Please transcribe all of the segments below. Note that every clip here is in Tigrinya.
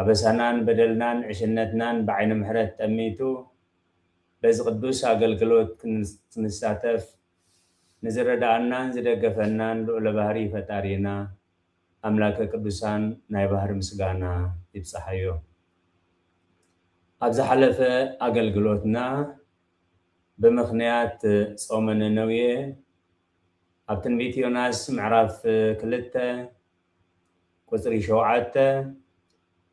ኣበሳናን በደልናን ዕሽነትናን ብዓይኒ ምሕረት ጠሚቱ በዚ ቅዱስ ኣገልግሎት ክንሳተፍ ንዝረዳኣናን ዝደገፈናን ልኡለ ባህሪ ፈጣሪና ኣምላከ ቅዱሳን ናይ ባህሪ ምስጋና ይብፃሓዮ። ኣብ ዝሓለፈ ኣገልግሎትና ብምኽንያት ፆመ ነነዌ ኣብ ትንቢት ዮናስ ምዕራፍ ክልተ ቍጽሪ ሸውዓተ፣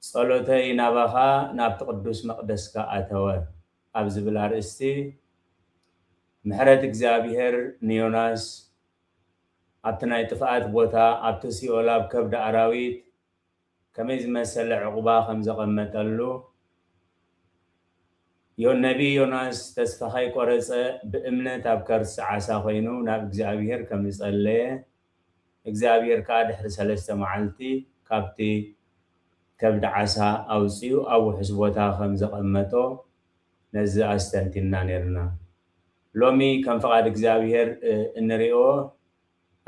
ጸሎተይ ናባኻ ናብቲ ቅዱስ መቕደስካ ኣተወ ኣብ ዝብል ኣርእስቲ፣ ምሕረት እግዚኣብሄር ንዮናስ ኣብቲ ናይ ጥፍኣት ቦታ፣ ኣብቲ ሲኦል ኣብ ከብዲ ኣራዊት፣ ከመይ ዝመሰለ ዕቝባ ከም ዘቐመጠሉ፣ ነብዪ ዮናስ ተስፋ ከይቈረጸ ብእምነት ኣብ ከርሲ ዓሳ ኰይኑ ናብ እግዚኣብሄር ከም ዝጸለየ፣ እግዚኣብሄር ከኣ ድሕሪ ሰለስተ መዓልቲ ካብቲ ከብዲ ዓሳ ኣውጺኡ ኣብ ውሑስ ቦታ ከም ዘቐመጦ ነዚ ኣስተንቲንና ኔርና። ሎሚ ከም ፍቓድ እግዚኣብሄር እንርእዮ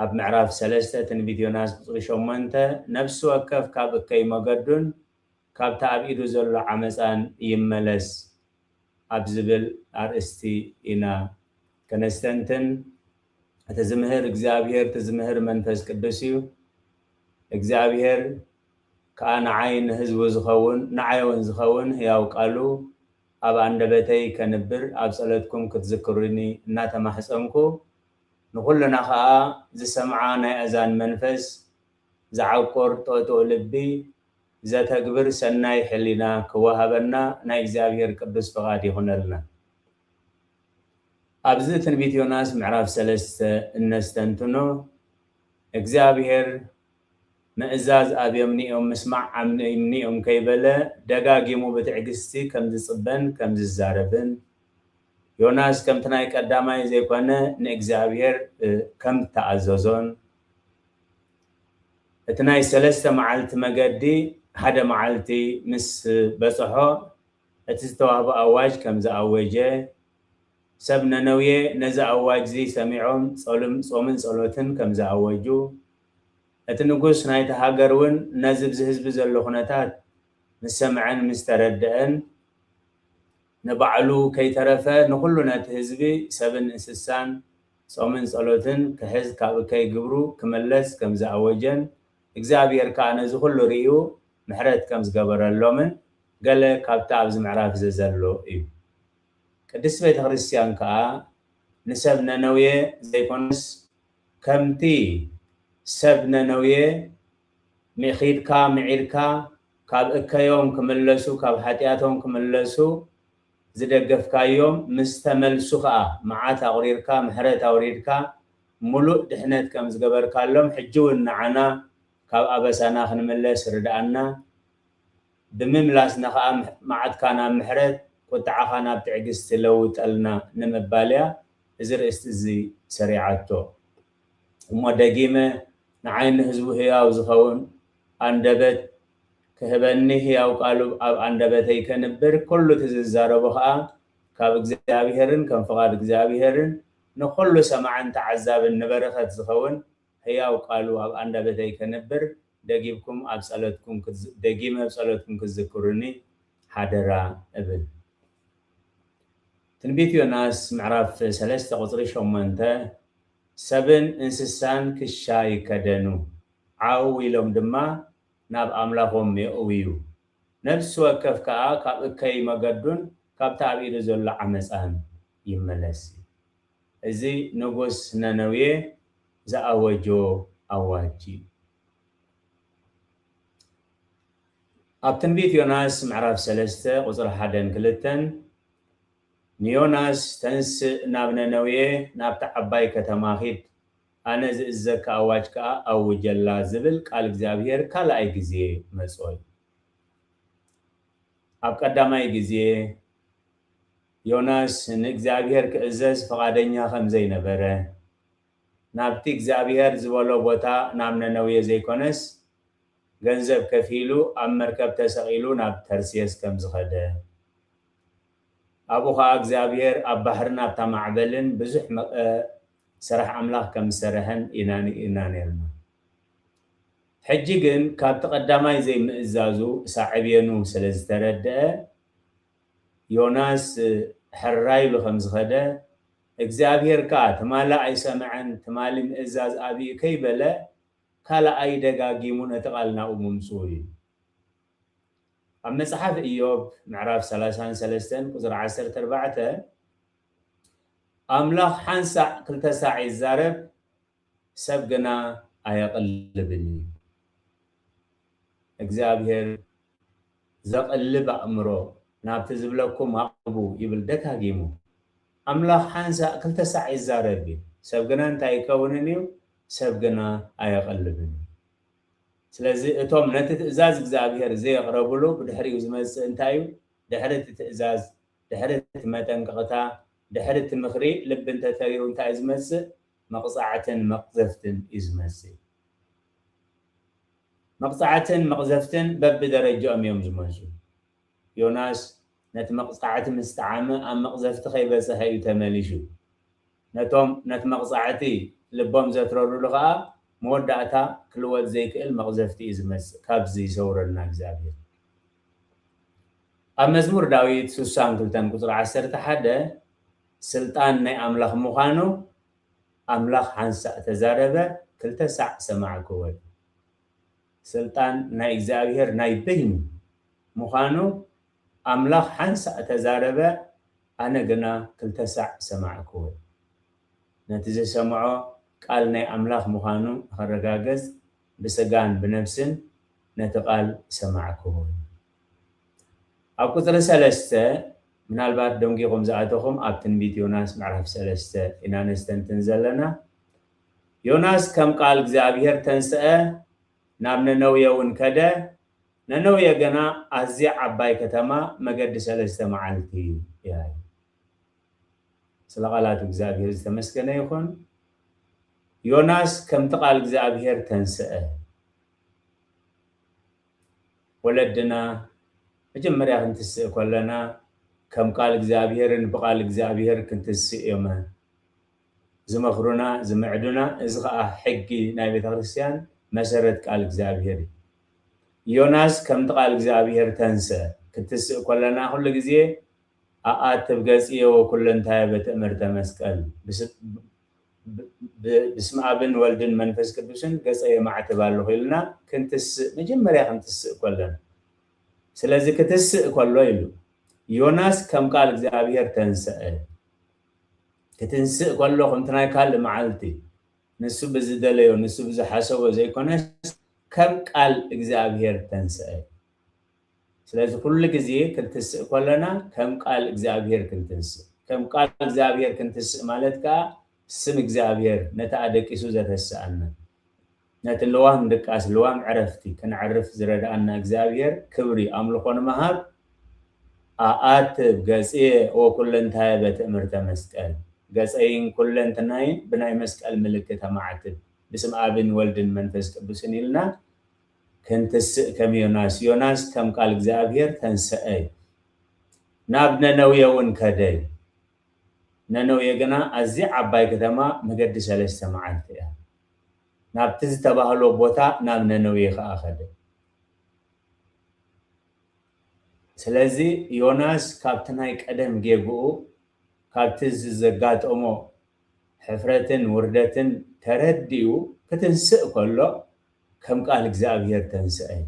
ኣብ ምዕራፍ ሰለስተ ትንቢት ዮናስ ቁጽሪ ሸሞንተ ነፍሲ ወከፍ ካብ እከይ መገዱን ካብቲ ኣብ ኢዱ ዘሎ ዓመጻን ይመለስ ኣብ ዝብል ኣርእስቲ ኢና ከነስተንትን እቲ ዝምህር እግዚኣብሔር እቲ ዝምህር መንፈስ ቅዱስ እዩ እግዚኣብሔር ከኣ ንዓይ ንህዝቡ ዝኸውን ንዓይ እውን ዝኸውን ሕያው ቃሉ ኣብ ኣንደበተይ ከንብር ኣብ ጸሎትኩም ክትዝክሩኒ እናተማሕጸንኩ ንኹልና ከኣ ዝሰምዓ ናይ ኣእዛን መንፈስ ዝዓቁር ጥቕጥቕ ልቢ ዘተግብር ሰናይ ሕሊና ክወሃበና ናይ እግዚኣብሔር ቅዱስ ፍቓድ ይኹነልና። ኣብዚ ትንቢት ዮናስ ምዕራፍ ሰለስተ እነስተንትኖ፣ እግዚኣብሄር ምእዛዝ ኣብዮምኒ'ዮም ምስማዕ ዓምኒ'ዩምኒ'ዮም ከይበለ ደጋጊሙ ብትዕግስቲ ከም ዝጽበን ከም ዝዛረብን፣ ዮናስ ከምቲ ናይ ቀዳማይ ዘይኮነ ንእግዚኣብሄር ከም እተኣዘዞን፣ እቲ ናይ ሰለስተ መዓልቲ መገዲ ሓደ መዓልቲ ምስ በጽሖ፣ እቲ ዝተዋህቦ ኣዋጅ ከም ዝኣወጀ፣ ሰብ ነነውየ ነዚ ኣዋጅዚ ሰሚዖም ጸሉም ጾምን ጸሎትን ከም ዝኣወጁ፣ እቲ ንጉስ ናይታ ሃገርውን ነዚ ብዚ ህዝቢ ዘሎ ኩነታት ምስ ሰምዐን ምስ ተረደኣን፣ ንባዕሉ ከይተረፈ ንኹሉ ነቲ ህዝቢ ሰብን እንስሳን ጾምን ጸሎትን ክሕዝ ካብ እከይ ግብሩ ክመለስ ከም ዝኣወጀን፣ እግዚኣብሄር ከኣ ነዚ ኩሉ ርእዩ ምሕረት ከም ዝገበረሎምን ገለ ካብቲ ኣብዚ ምዕራፍዚ ዘሎ እዩ። ቅድስቲ ቤተ ክርስቲያን ከኣ ንሰብ ነነውየ ዘይኮነስ ከምቲ ሰብ ነነውየ ሚኺድካ ምዒድካ ካብ እከዮም ክምለሱ ካብ ሓጢኣቶም ክምለሱ ዝደገፍካዮም ምስ ተመልሱ ከኣ መዓት ኣቑሪርካ ምሕረት ኣውሪድካ ምሉእ ድሕነት ከም ዝገበርካሎም ሕጂውን ንዓና ካብ ኣበሳና ክንምለስ ርድኣና፣ ብምምላስና ከኣ መዓትካ ናብ ምሕረት፣ ቁጥዓኻ ናብ ትዕግስቲ ለውጠልና ንምባል እያ እዚ ርእስቲ እዚ ሰሪዓቶ። እሞ ደጊመ ንዓይ ንህዝቡ ህያው ዝኸውን ኣንደበት ክህበኒ ህያው ቃሉ ኣብ ኣንደበተይ ከንብር ኩሉ እቲ ዝዛረቦ ከኣ ካብ እግዚኣብሔርን ከም ፍቓድ እግዚኣብሔርን ንኹሉ ሰማዕን ተዓዛብን ንበረኸት ዝኸውን ሕያው ቃሉ ኣብ ኣንደበተይ ከንብር ደጊምኩም ኣብ ጸሎትኩም ደጊመ ኣብ ጸሎትኩም ክትዝክሩኒ ሓደራ እብል። ትንቢት ዮናስ ምዕራፍ ሰለስተ ቁጽሪ ሸሞንተ ሰብን እንስሳን ክሻ ይከደኑ፣ ዓው ኢሎም ድማ ናብ ኣምላኾም የእውዩ፣ ነፍሲ ወከፍ ከኣ ካብ እከይ መገዱን ካብቲ ኣብ ኢዱ ዘሎ ዓመጻን ይመለስ። እዚ ንጉስ ነነዌ ዝኣወጆ ኣዋጅ እዩ። ኣብ ትንቢት ዮናስ ምዕራፍ ሰለስተ ቁጽሪ ሓደን ክልተን ንዮናስ ተንስእ ናብ ነነዌ ናብታ ዓባይ ከተማ ኪድ ኣነ ዝእዝዘካ ኣዋጅ ከኣ ኣውጀላ ዝብል ቃል እግዚኣብሄር ካልኣይ ግዜ መጾ እዩ። ኣብ ቀዳማይ ግዜ። ዮናስ ንእግዚኣብሄር ክእዘዝ ፍቓደኛ ኸም ዘይነበረ፣ ናብቲ እግዚኣብሄር ዝበሎ ቦታ ናብ ነነዌ ዘይኰነስ፣ ገንዘብ ከፊሉ ኣብ መርከብ ተሰቒሉ ናብ ተርሴስ ከም ዝኸደ፣ ኣብኡ ኸኣ እግዚኣብሄር ኣብ ባሕርን ኣብታ ማዕበልን ብዙሕ ስራሕ ኣምላኽ ከም ዝሰርሐን ኢና ርኢና ኔርና። ሕጂ ግን ካብቲ ቀዳማይ ዘይምእዛዙ ሳዕቤኑ ስለ ዝተረድኣ፣ ዮናስ ሕራይ ኢሉ ከም ዝኸደ፣ እግዚኣብሄር ከኣ ትማሊ ኣይሰምዐን፣ ትማሊ ምእዛዝ ኣብዩ ከይበለ ካልኣይ ደጋጊሙ ነቲ ቓል ናብኡ ምምጽኡ እዩ። ኣብ መጽሓፍ እዮብ ምዕራፍ ሰላሳን ሰለስተን ቁጽሪ ዓሰርተ ኣርባዕተ ኣምላኽ ሓንሳዕ ክልተ ሳዕ ይዛረብ፣ ሰብ ግና ኣየቕልብን እዩ። እግዚኣብሄር ዘቕልብ ኣእምሮ ናብቲ ዝብለኩም ኣቕርቡ ይብል ደጋጊሙ። ኣምላኽ ሓንሳእ ክልተ ሳዕ ይዛረብ እዩ። ሰብ ግና እንታይ ኣይከውንን እዩ? ሰብ ግና ኣየቕልብን እዩ። ስለዚ እቶም ነቲ ትእዛዝ እግዚኣብሄር ዘየቕረብሉ ብድሕሪኡ ዝመጽእ እንታይ እዩ? ድሕሪ እቲ ትእዛዝ፣ ድሕሪ እቲ መጠንቀቕታ፣ ድሕሪ እቲ ምኽሪ ልቢ እንተተሪሩ እንታይ እዩ ዝመጽእ? መቕጻዕትን መቕዘፍትን እዩ ዝመስል። መቕጻዕትን መቕዘፍትን በብደረጃኦም እዮም ዝመጹ። ዮናስ ነቲ መቕጻዕቲ ምስ ጠዓመ ኣብ መቕዘፍቲ ከይበጸሐ እዩ ተመሊሹ። ነቶም ነቲ መቕጻዕቲ ልቦም ዘትረሩሉ ከኣ መወዳእታ ክልወጥ ዘይክእል መቕዘፍቲ እዩ ዝመጽእ። ካብዚ ይሰውረልና እግዚኣብሔር። ኣብ መዝሙር ዳዊት ስሳን ክልተን ቁጽሪ ዓሰርተ ሓደ፣ ስልጣን ናይ ኣምላኽ ምዃኑ ኣምላኽ ሓንሳእ ተዛረበ ክልተ ሳዕ ሰማዕ ክወል። ስልጣን ናይ እግዚኣብሔር ናይ በይኑ ምዃኑ ኣምላኽ ሓንሳእ ተዛረበ ኣነ ግና ክልተ ሳዕ ሰማዕ ክወል። ነቲ ዝሰምዖ ቃል ናይ ኣምላኽ ምዃኑ ንኸረጋገጽ ብሥጋን ብነፍስን ነቲ ቃል ሰማዕ ክወል። ኣብ ቁጽሪ ሰለስተ፣ ምናልባት ደንጊኹም ዝኣተኹም ኣብ ትንቢት ዮናስ ምዕራፍ ሰለስተ ኢና ነስተንትን ዘለና። ዮናስ ከም ቃል እግዚኣብሄር ተንስኣ ናብ ነነውየ ውን ከደ፣ ነነውየ ግና ኣዝያ ዓባይ ከተማ መገዲ ሰለስተ መዓልቲ እያ ኢሉ። ስለ ቃላት እግዚኣብሄር ዝተመስገነ ይኹን። ዮናስ ከምቲ ቃል እግዚኣብሄር ተንስኣ። ወለድና መጀመርያ ክንትስእ ከለና ከም ቃል እግዚኣብሔርን ብቃል እግዚኣብሔር ክንትስእ እዮመ ዝመክሩና ዝምዕዱና እዚ ከኣ ሕጊ ናይ ቤተክርስትያን መሰረት ቃል እግዚኣብሔር እዩ ዮናስ ከምቲ ቃል እግዚኣብሔር ተንሰ ክትስእ ከለና ኩሉ ግዜ ኣኣትብ ገጽየ ወኩለንታየ በትእምርተ መስቀል ብስመኣብን ወልድን መንፈስ ቅዱስን ገጸ የማዕትብ ኣሎኹ ኢልና ክንትስእ መጀመርያ ክንትስእ ከሎና ስለዚ ክትስእ ከሎ ኢሉ ዮናስ ከም ቃል እግዚኣብሔር ተንሰእ ክትንስእ ከሎ ከምቲ ናይ ካልእ መዓልቲ ንሱ ብዝደለዮ ንሱ ብዝሓሰቦ ዘይኮነስ ከም ቃል እግዚኣብሔር ተንሰእ ስለዚ ኩሉ ግዜ ክንትስእ ከሎና ከም ቃል እግዚኣብሄር ክንትንስእ ከም ቃል እግዚኣብሄር ክንትስእ ማለት ከኣ ስም እግዚኣብሄር ነቲ ኣደቂሱ ዘተስኣና ነቲ ልዋም ድቃስ ልዋም ዕረፍቲ ክንዕርፍ ዝረድኣና እግዚኣብሄር ክብሪ ኣምልኾ ንምሃብ ኣኣትብ ገጽየ ወኩለንታየ በትእምርተ መስቀል ገጸይን ኩለንትናይን ብናይ መስቀል ምልክት ኣማዕትብ ብስም ኣብን ወልድን መንፈስ ቅዱስን ኢልና ክንትስእ ከም ዮናስ ዮናስ ከም ቃል እግዚኣብሔር ተንሰኣ እዩ። ናብ ነነዌ እውን ከደ እዩ። ነነዌ ግና ኣዝያ ዓባይ ከተማ መገዲ ሰለስተ መዓልቲ እያ። ናብቲ ዝተባህሎ ቦታ ናብ ነነዌ ከኣ ከደ። ስለዚ ዮናስ ካብቲ ናይ ቀደም ጌግኡ ካብቲ እዚ ዘጋጠሞ ሕፍረትን ውርደትን ተረዲኡ ክትንስእ ከሎ ከም ቃል እግዚኣብሄር ተንስኣ እዩ።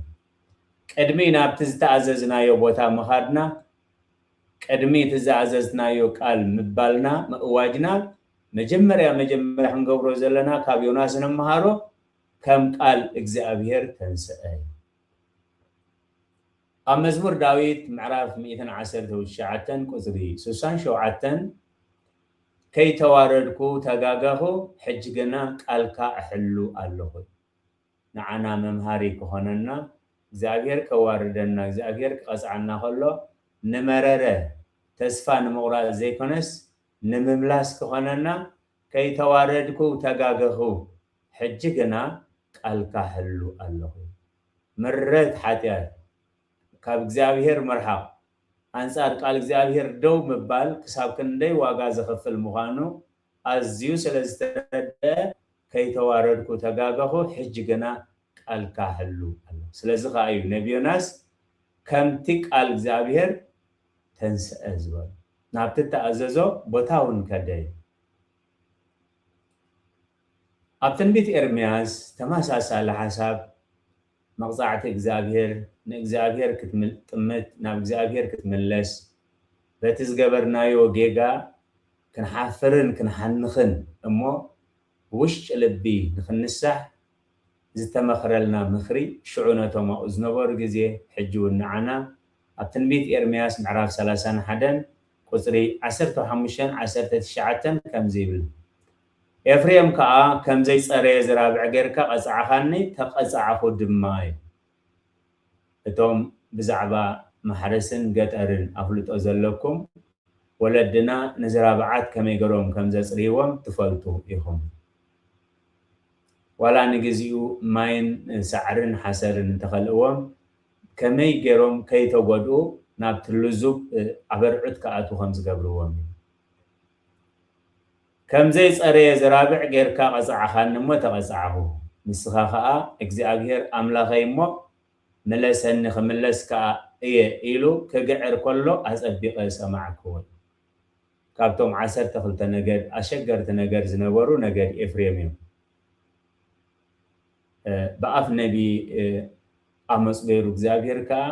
ቅድሚ ናብቲ ዝተኣዘዝናዮ ቦታ ምኻድና፣ ቅድሚ እቲ ዝኣዘዝትናዮ ቃል ምባልና፣ ምእዋጅና፣ መጀመርያ መጀመርያ ክንገብሮ ዘለና ካብ ዮናስ እንመሃሮ ከም ቃል እግዚኣብሄር ተንስኣ እዩ። ኣብ መዝሙር ዳዊት ምዕራፍ ሚእትን ዓሰርተው ትሽዓተን ቁጽሪ ሱሳን ሸውዓተን ከይተዋረድኩ ተጋገኹ ሕጂ ግና ቃልካ እሕሉ ኣሎኹ እዩ። ንዓና መምሃሪ ክኾነና እግዚኣብሄር ከዋርደና እግዚኣብሄር ክቐጽዓና ከሎ ንመረረ ተስፋ ንምቑራጽ ዘይኮነስ ንምምላስ ክኾነና ከይተዋረድኩ ተጋገኹ ሕጂ ግና ቃልካ እሕሉ ኣሎኹ እዩ። ምረት ሓጢኣት፣ ካብ እግዚኣብሄር ምርሓቕ፣ ኣንጻር ቃል እግዚኣብሄር ደው ምባል ክሳብ ክንደይ ዋጋ ዘኽፍል ምዃኑ ኣዝዩ ስለ ዝተረድኣ ከይተዋረድኩ ተጋገኹ ሕጂ ግና ቃልካ ሕሉ ኣሎ ስለዚ ከኣ እዩ ነቢ ዮናስ ከምቲ ቃል እግዚኣብሄር ተንስኣ ዝበሎ ናብቲ እተኣዘዞ ቦታውን ከደ እዩ። ኣብ ትንቢት ኤርምያስ ተመሳሳሊ ሓሳብ መቕጻዕቲ እግዚኣብሔር ንእግዚኣብሔር ክትጥምት ናብ እግዚኣብሔር ክትምለስ በቲ ዝገበርናዮ ጌጋ ክንሓፍርን ክንሓንኽን እሞ ብውሽጢ ልቢ ንኽንሳሕ ዝተመኽረልና ምኽሪ ሽዑ ነቶም ኣብኡ ዝነበሩ ግዜ ሕጂ ውን ንዓና ኣብ ትንቢት ኤርምያስ ምዕራፍ ሰላሳን ሓደን ቁጽሪ ዓሰርተ ሓሙሽተን ዓሰርተ ትሽዓተን ከምዚ ይብል ኤፍሬም ከኣ ከም ዘይጸረየ ዝራብዕ ጌርካ ቀጻዕኻኒ፣ ተቐጻዕኹ ድማ ኢሉ። እቶም ብዛዕባ ማሕረስን ገጠርን ኣፍልጦ ዘለኩም፣ ወለድና ንዝራብዓት ከመይ ገሮም ከም ዘጽርይዎም ትፈልጡ ኢኹም። ዋላ ንግዚኡ ማይን ሳዕርን ሓሰርን እንተኸልእዎም፣ ከመይ ጌሮም ከይተጎድኡ ናብቲ ልዙብ ኣበርዕት ክኣትዉ ከም ዝገብርዎም ኢዩ። ከም ዘይጸረየ ዘራብዕ ጌርካ ቐጻዕኻኒ እሞ ተቐጻዕኹ። ንስኻ ኸኣ፣ እግዚኣብሄር ኣምላኸይ እሞ፣ ምለሰኒ ኽምለስ ከኣ እየ ኢሉ ኺግዕር ከሎ ኣጸቢቐ ሰማዕኩ። ካብቶም ዓሰርተ ክልተ ነገድ፣ ኣሸገርቲ ነገድ ዝነበሩ ነገድ ኤፍሬም እዮም። ብኣፍ ነብዪ ኣሞጽ ገይሩ እግዚኣብሄር ከኣ፣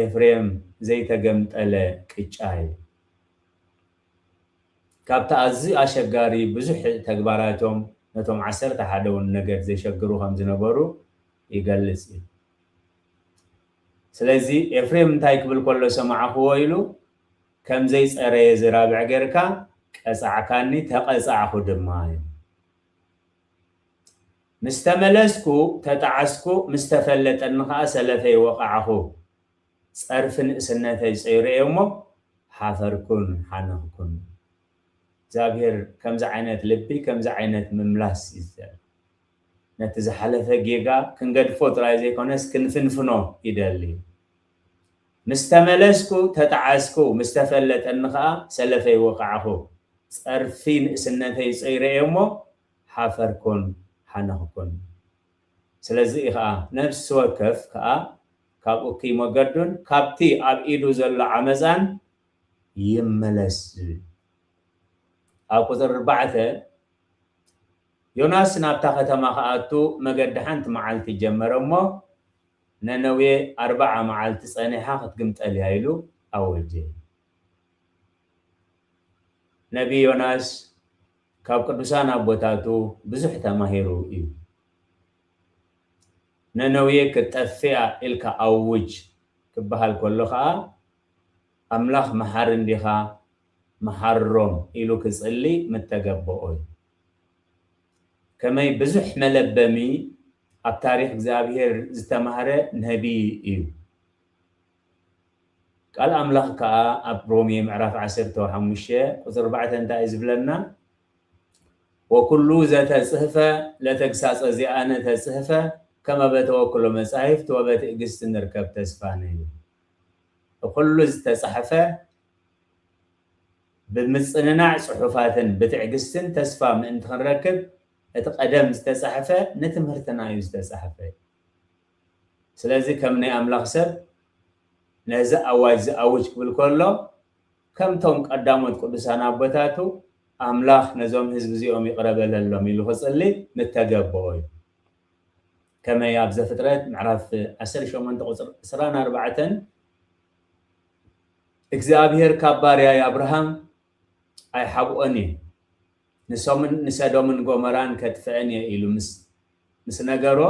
ኤፍሬም ዘይተገምጠለ ቅጫ እዩ። ካብቲ ኣዝዩ ኣሸጋሪ ብዙሕ ተግባራቶም ነቶም ዓሰርተ ሓደውን ነገድ ዜሸግሩ ኸም ዝነበሩ ይገልጽ እዩ። ስለዚ፣ ኤፍሬም እንታይ ኪብል ከሎ ሰማዕክዎ ኢሉ፣ ከም ዘይጸረየ ዚራብዕ ጌርካ ቀጻዕካኒ፣ ተቐጻዕኩ ድማ ኢሉ። ምስ ተመለስኩ፣ ተጣዕስኩ፣ ምስ ተፈለጠኒ ኸኣ ሰለፈይ ወቓዕኹ። ጸርፊ ንእስነተይ ጸይረዮ እሞ ሓፈርኩን ሓነኽኩን። እግዚኣብሄር ከምዚ ዓይነት ልቢ ከምዚ ዓይነት ምምላስ እዩ ዝደሊ። ነቲ ዝሓለፈ ጌጋ ክንገድፎ ጥራይ ዘይኮነስ ክንፍንፍኖ ይደሊ። ምስ ተመለስኩ ተጣዓስኩ ምስ ተፈለጠኒ ከኣ ሰለፈይ ወቃዕኹ። ጸርፊ ንእስነተይ ጸይረዮ እሞ ሓፈርኩን ሓነኽኩን። ስለዚ እዩ ከኣ ነፍሲ ወከፍ ከኣ ካብ እኩይ መገዱን ካብቲ ኣብ ኢዱ ዘሎ ዓመጻን ይመለስ ዝብል ኣብ ቁጽሪ ኣርባዕተ ዮናስ ናብታ ከተማ ክኣቱ መገዲ ሓንቲ መዓልቲ ጀመረ እሞ ነነዌ ኣርብዓ መዓልቲ ጸኒሓ ክትግምጠል እያ ኢሉ ኣወጀ። ነብዪ ዮናስ ካብ ቅዱሳን ኣቦታቱ ብዙሕ ተማሂሩ እዩ። ነነዌ ክትጠፍእ'ያ ኢልካ ኣውጅ ክበሃል ከሎ ከኣ ኣምላኽ መሓሪ እንዲኻ መሓሮም ኢሉ ክጽሊ ምተገበኦ'ዩ። ከመይ ብዙሕ መለበሚ ኣብ ታሪኽ እግዚኣብሄር ዝተማህረ ነብዪ እዩ። ቃል ኣምላኽ ከኣ ኣብ ሮሜ ምዕራፍ ዓሰርተ ሓሙሽተ ቁጽሪ ኣርባዕተ እንታይ እዩ ዝብለና? ወኩሉ ዘተጽህፈ ለተግሳጸ ዚኣነ ተጽህፈ ከመ በተወክሎ መጻሕፍት ወበትእግስት ንርከብ ተስፋ ነዩ እኩሉ ዝተጻሕፈ ብምጽንናዕ ጽሑፋትን ብትዕግስትን ተስፋ ምእንቲ ክንረክብ እቲ ቀደም ዝተጻሕፈ ንትምህርትና እዩ ዝተጻሕፈ ስለዚ ከም ናይ ኣምላኽ ሰብ ነዚ ኣዋጅ ዝኣውጅ ክብል ከሎ ከምቶም ቀዳሞት ቅዱሳን ኣቦታቱ ኣምላኽ ነዞም ህዝቢ እዚኦም ይቕረ በለሎም ኢሉ ክጽሊ ምተገበኦ እዩ። ከመይ ኣብ ዘፍጥረት ምዕራፍ ዓሰርተ ሸሞንተ ቁጽሪ ዕስራን ኣርባዕተን እግዚኣብሔር ካብ ባርያይ ኣብርሃም ኣይሓብኦን እየ ንሶምን ንሰዶምን ጎመራን ከጥፍአን እየ ኢሉ ምስ ነገሮ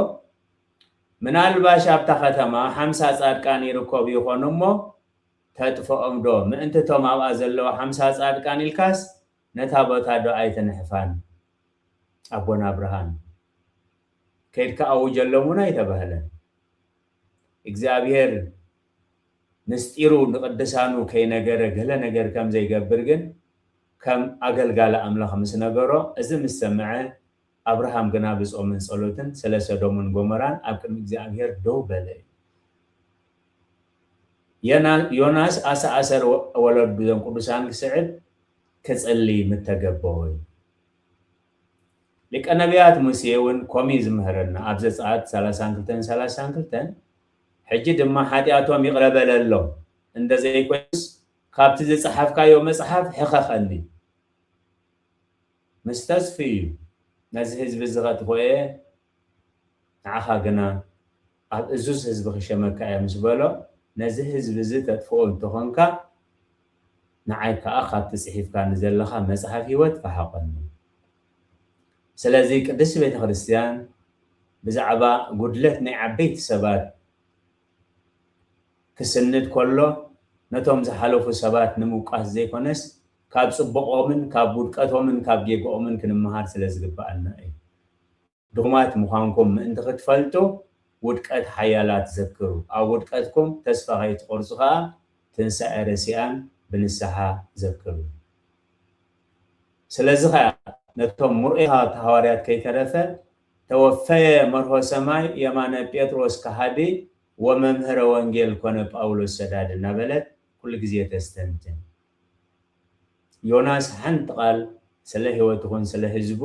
ምናልባሽ ኣብታ ከተማ ሓምሳ ጻድቃን ይርከቡ ይኾኑ እሞ ተጥፍኦም ዶ ምእንቲ እቶም ኣብኣ ዘለዉ ሓምሳ ጻድቃን ኢልካስ ነታ ቦታ ዶ ኣይትንሕፋን ኣቦና ብርሃን ከይድካ ኣውጀሎም ውን ኣይተባህለን እግዚኣብሄር ምስጢሩ ንቅድሳኑ ከይነገረ ገለ ነገር ከምዘይገብር ግን ከም ኣገልጋሊ ኣምላኽ ምስ ነገሮ እዚ ምስ ሰምዐ ኣብርሃም ግና ብጾምን ጸሎትን ስለ ሰዶምን ጎመራን ኣብ ቅድሚ እግዚኣብሄር ደው በለ እዩ። ዮናስ ኣሰ ኣሰር ወለዱ እዞም ቅዱሳን ክስዕብ ክጽሊ ምተገበኦ እዩ። ሊቀ ነብያት ሙሴ እውን ኮም እዩ ዝምህረና ኣብ ዘጸኣት ሰላሳን ክልተን ሰላሳን ክልተን ሕጂ ድማ ሓጢኣቶም ይቕረ በለሎም እንደ ዘይኮይኑስ ካብቲ ዝጸሓፍካዮ መጽሓፍ ሕኸኸኒ ምስ ተስፍይ ነዚ ህዝቢ እዚ ከጥፍኦ እየ ንዓኻ ግና ኣብ እዙዝ ህዝቢ ክሸመካ እየ ምስ በሎ ነዚ ህዝቢ እዚ ተጥፍኦ እንተኾንካ ንዓይ ከኣ ካብቲ ጽሒፍካኒ ዘለኻ መጽሓፍ ህይወት ፈሓቖኒ ስለዚ ቅድስቲ ቤተ ክርስትያን ብዛዕባ ጉድለት ናይ ዓበይቲ ሰባት ክስንድ ከሎ ነቶም ዝሓለፉ ሰባት ንምውቃስ ዘይኮነስ ካብ ጽቡቆምን ካብ ውድቀቶምን ካብ ጌግኦምን ክንመሃር ስለ ዝግብኣና እዩ። ድኹማት ምዃንኩም ምእንቲ ክትፈልጡ ውድቀት ሓያላት ዘክሩ፣ ኣብ ውድቀትኩም ተስፋ ከይትቆርጹ ከኣ ትንሳኤ ረሲኣን ብንስሓ ዘክሩ። ስለዚ ከኣ ነቶም ምርኡያት ሃዋርያት ከይተረፈ ተወፈየ መርሆ ሰማይ የማነ ጴጥሮስ ከሃዲ ወመምህረ ወንጌል ኮነ ጳውሎስ ሰዳዲ እናበለት ኩሉ ግዜ ተስተንትን። ዮናስ ሓንቲ ቃል ስለ ሂወት ይኹን ስለ ህዝቡ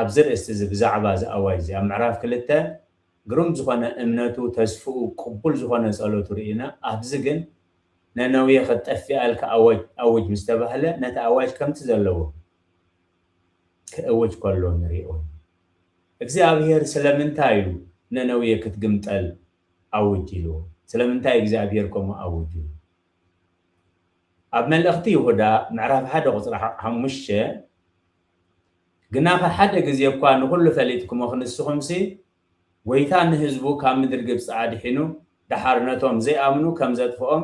ኣብዚ ርእስቲ እዚ ብዛዕባ እዚ ኣዋጅ እዚ ኣብ ምዕራፍ ክልተ ግሩም ዝኾነ እምነቱ ተስፍኡ ቅቡል ዝኾነ ጸሎቱ ርኢና ኣብዚ ግን ነነዌ ክትጠፊኣ ኢልካ ኣዋጅ ኣውጅ ምስ ተባህለ ነቲ ኣዋጅ ከምቲ ዘለዎ ክእውጅ ከሎ ንሪኦ እግዚኣብሄር ስለምንታይ እዩ ነነዌ ክትግምጠል ኣውጅ ኢልዎ ስለምንታይ እግዚኣብሄር ከምኡ ኣውጁ ኣብ መልእኽቲ ይሁዳ ምዕራፍ ሓደ ቁጽሪ ሓሙሽተ ግናኸ ሓደ ግዜ እኳ ንኹሉ ፈሊጥኩሞ ክንስኹምሲ ጐይታ ንህዝቡ ካብ ምድሪ ግብጺ ኣድሒኑ ደሓር ነቶም ዘይኣምኑ ከም ዘጥፍኦም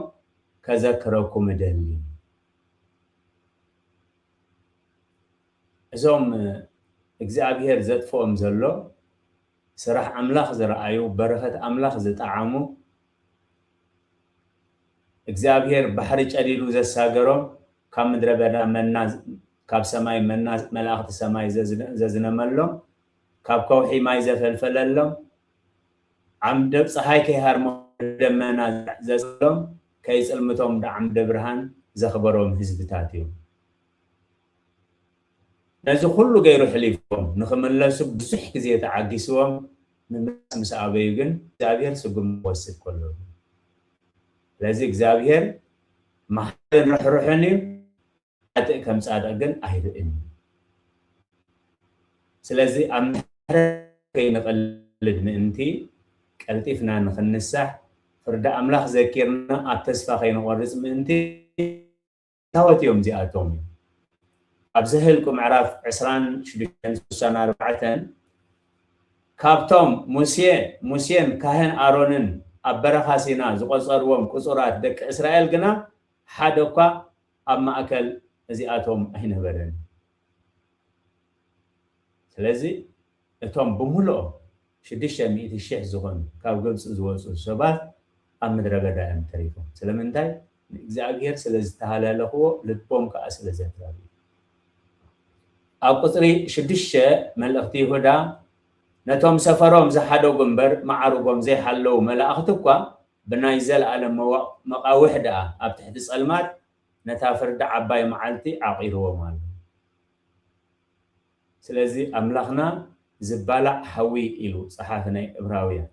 ከዘክረኩም እደሊ። እዞም እግዚኣብሄር ዘጥፍኦም ዘሎ ስራሕ ኣምላኽ ዝረኣዩ በረኸት ኣምላኽ ዝጠዓሙ እግዚኣብሄር ባሕሪ ጨዲዱ ዘሳገሮም፣ ካብ ምድረ በዳ መና ካብ ሰማይ መና መላእኽቲ ሰማይ ዘዝነመሎም፣ ካብ ከውሒ ማይ ዘፈልፈለሎም፣ ዓምደ ጸሓይ ከይሃርሞም ብደመና ዘጽለሎም፣ ከይጽልምቶም ብዓምደ ብርሃን ዘኽበሮም ህዝብታት እዮም። ነዚ ኩሉ ገይሩ ሕሊፍዎም ንኽምለሱ ብዙሕ ግዜ ተዓጊስዎም ምምላስ ምስ ኣበዩ ግን እግዚኣብሄር ስጉምቲ ክወስድ ከሎ እዩ። ስለዚ እግዚኣብሄር መሓርን ርሕሩሕን እዩ፣ ሓጥእ ከም ጻድቕ ግን ኣይርእን እዩ። ስለዚ ኣብ ምሕረት ከይንቕልድ ምእንቲ ቀልጢፍና ንኽንሳሕ ፍርዲ ኣምላኽ ዘኪርና ኣብ ተስፋ ከይንቖርጽ ምእንቲ፣ የታወት እዮም እዚኣቶም? ኣብ ዘህልቁ ምዕራፍ ዕስራን ሽዱሽተን ስሳን ኣርባዕተን ካብቶም ሙሴ ሙሴን ካህን ኣሮንን ኣብ በረኻ ሲና ዝቖጸርዎም ቁጹራት ደቂ እስራኤል ግና ሓደ እኳ ኣብ ማእከል እዚኣቶም ኣይነበረን። ስለዚ እቶም ብምሉኦም ሽዱሽተ ሚእቲ ሽሕ ዝዀኑ ካብ ግብጺ ዝወጹ ሰባት ኣብ ምድረ በዳ እዮም ተሪፎም። ስለምንታይ? ንእግዚኣብሄር ስለ ዝተሃላለኽዎ፣ ልቦም ከኣ ስለ ዘድረሩ እዩ። ኣብ ቍጽሪ ሽዱሽተ መልእኽቲ ይሁዳ፣ ነቶም ሰፈሮም ዝሓደጉ እምበር መዓርጎም ዘይሓለዉ መላእኽቲ እኳ ብናይ ዘለኣለም መቓውሕ ደኣ ኣብ ትሕቲ ጸልማት ነታ ፍርዲ ዓባይ መዓልቲ ዓቚርዎም ኣሎ። ስለዚ ኣምላኽና ዝባላዕ ሓዊ ኢሉ ጸሓፊ ናይ እብራውያን።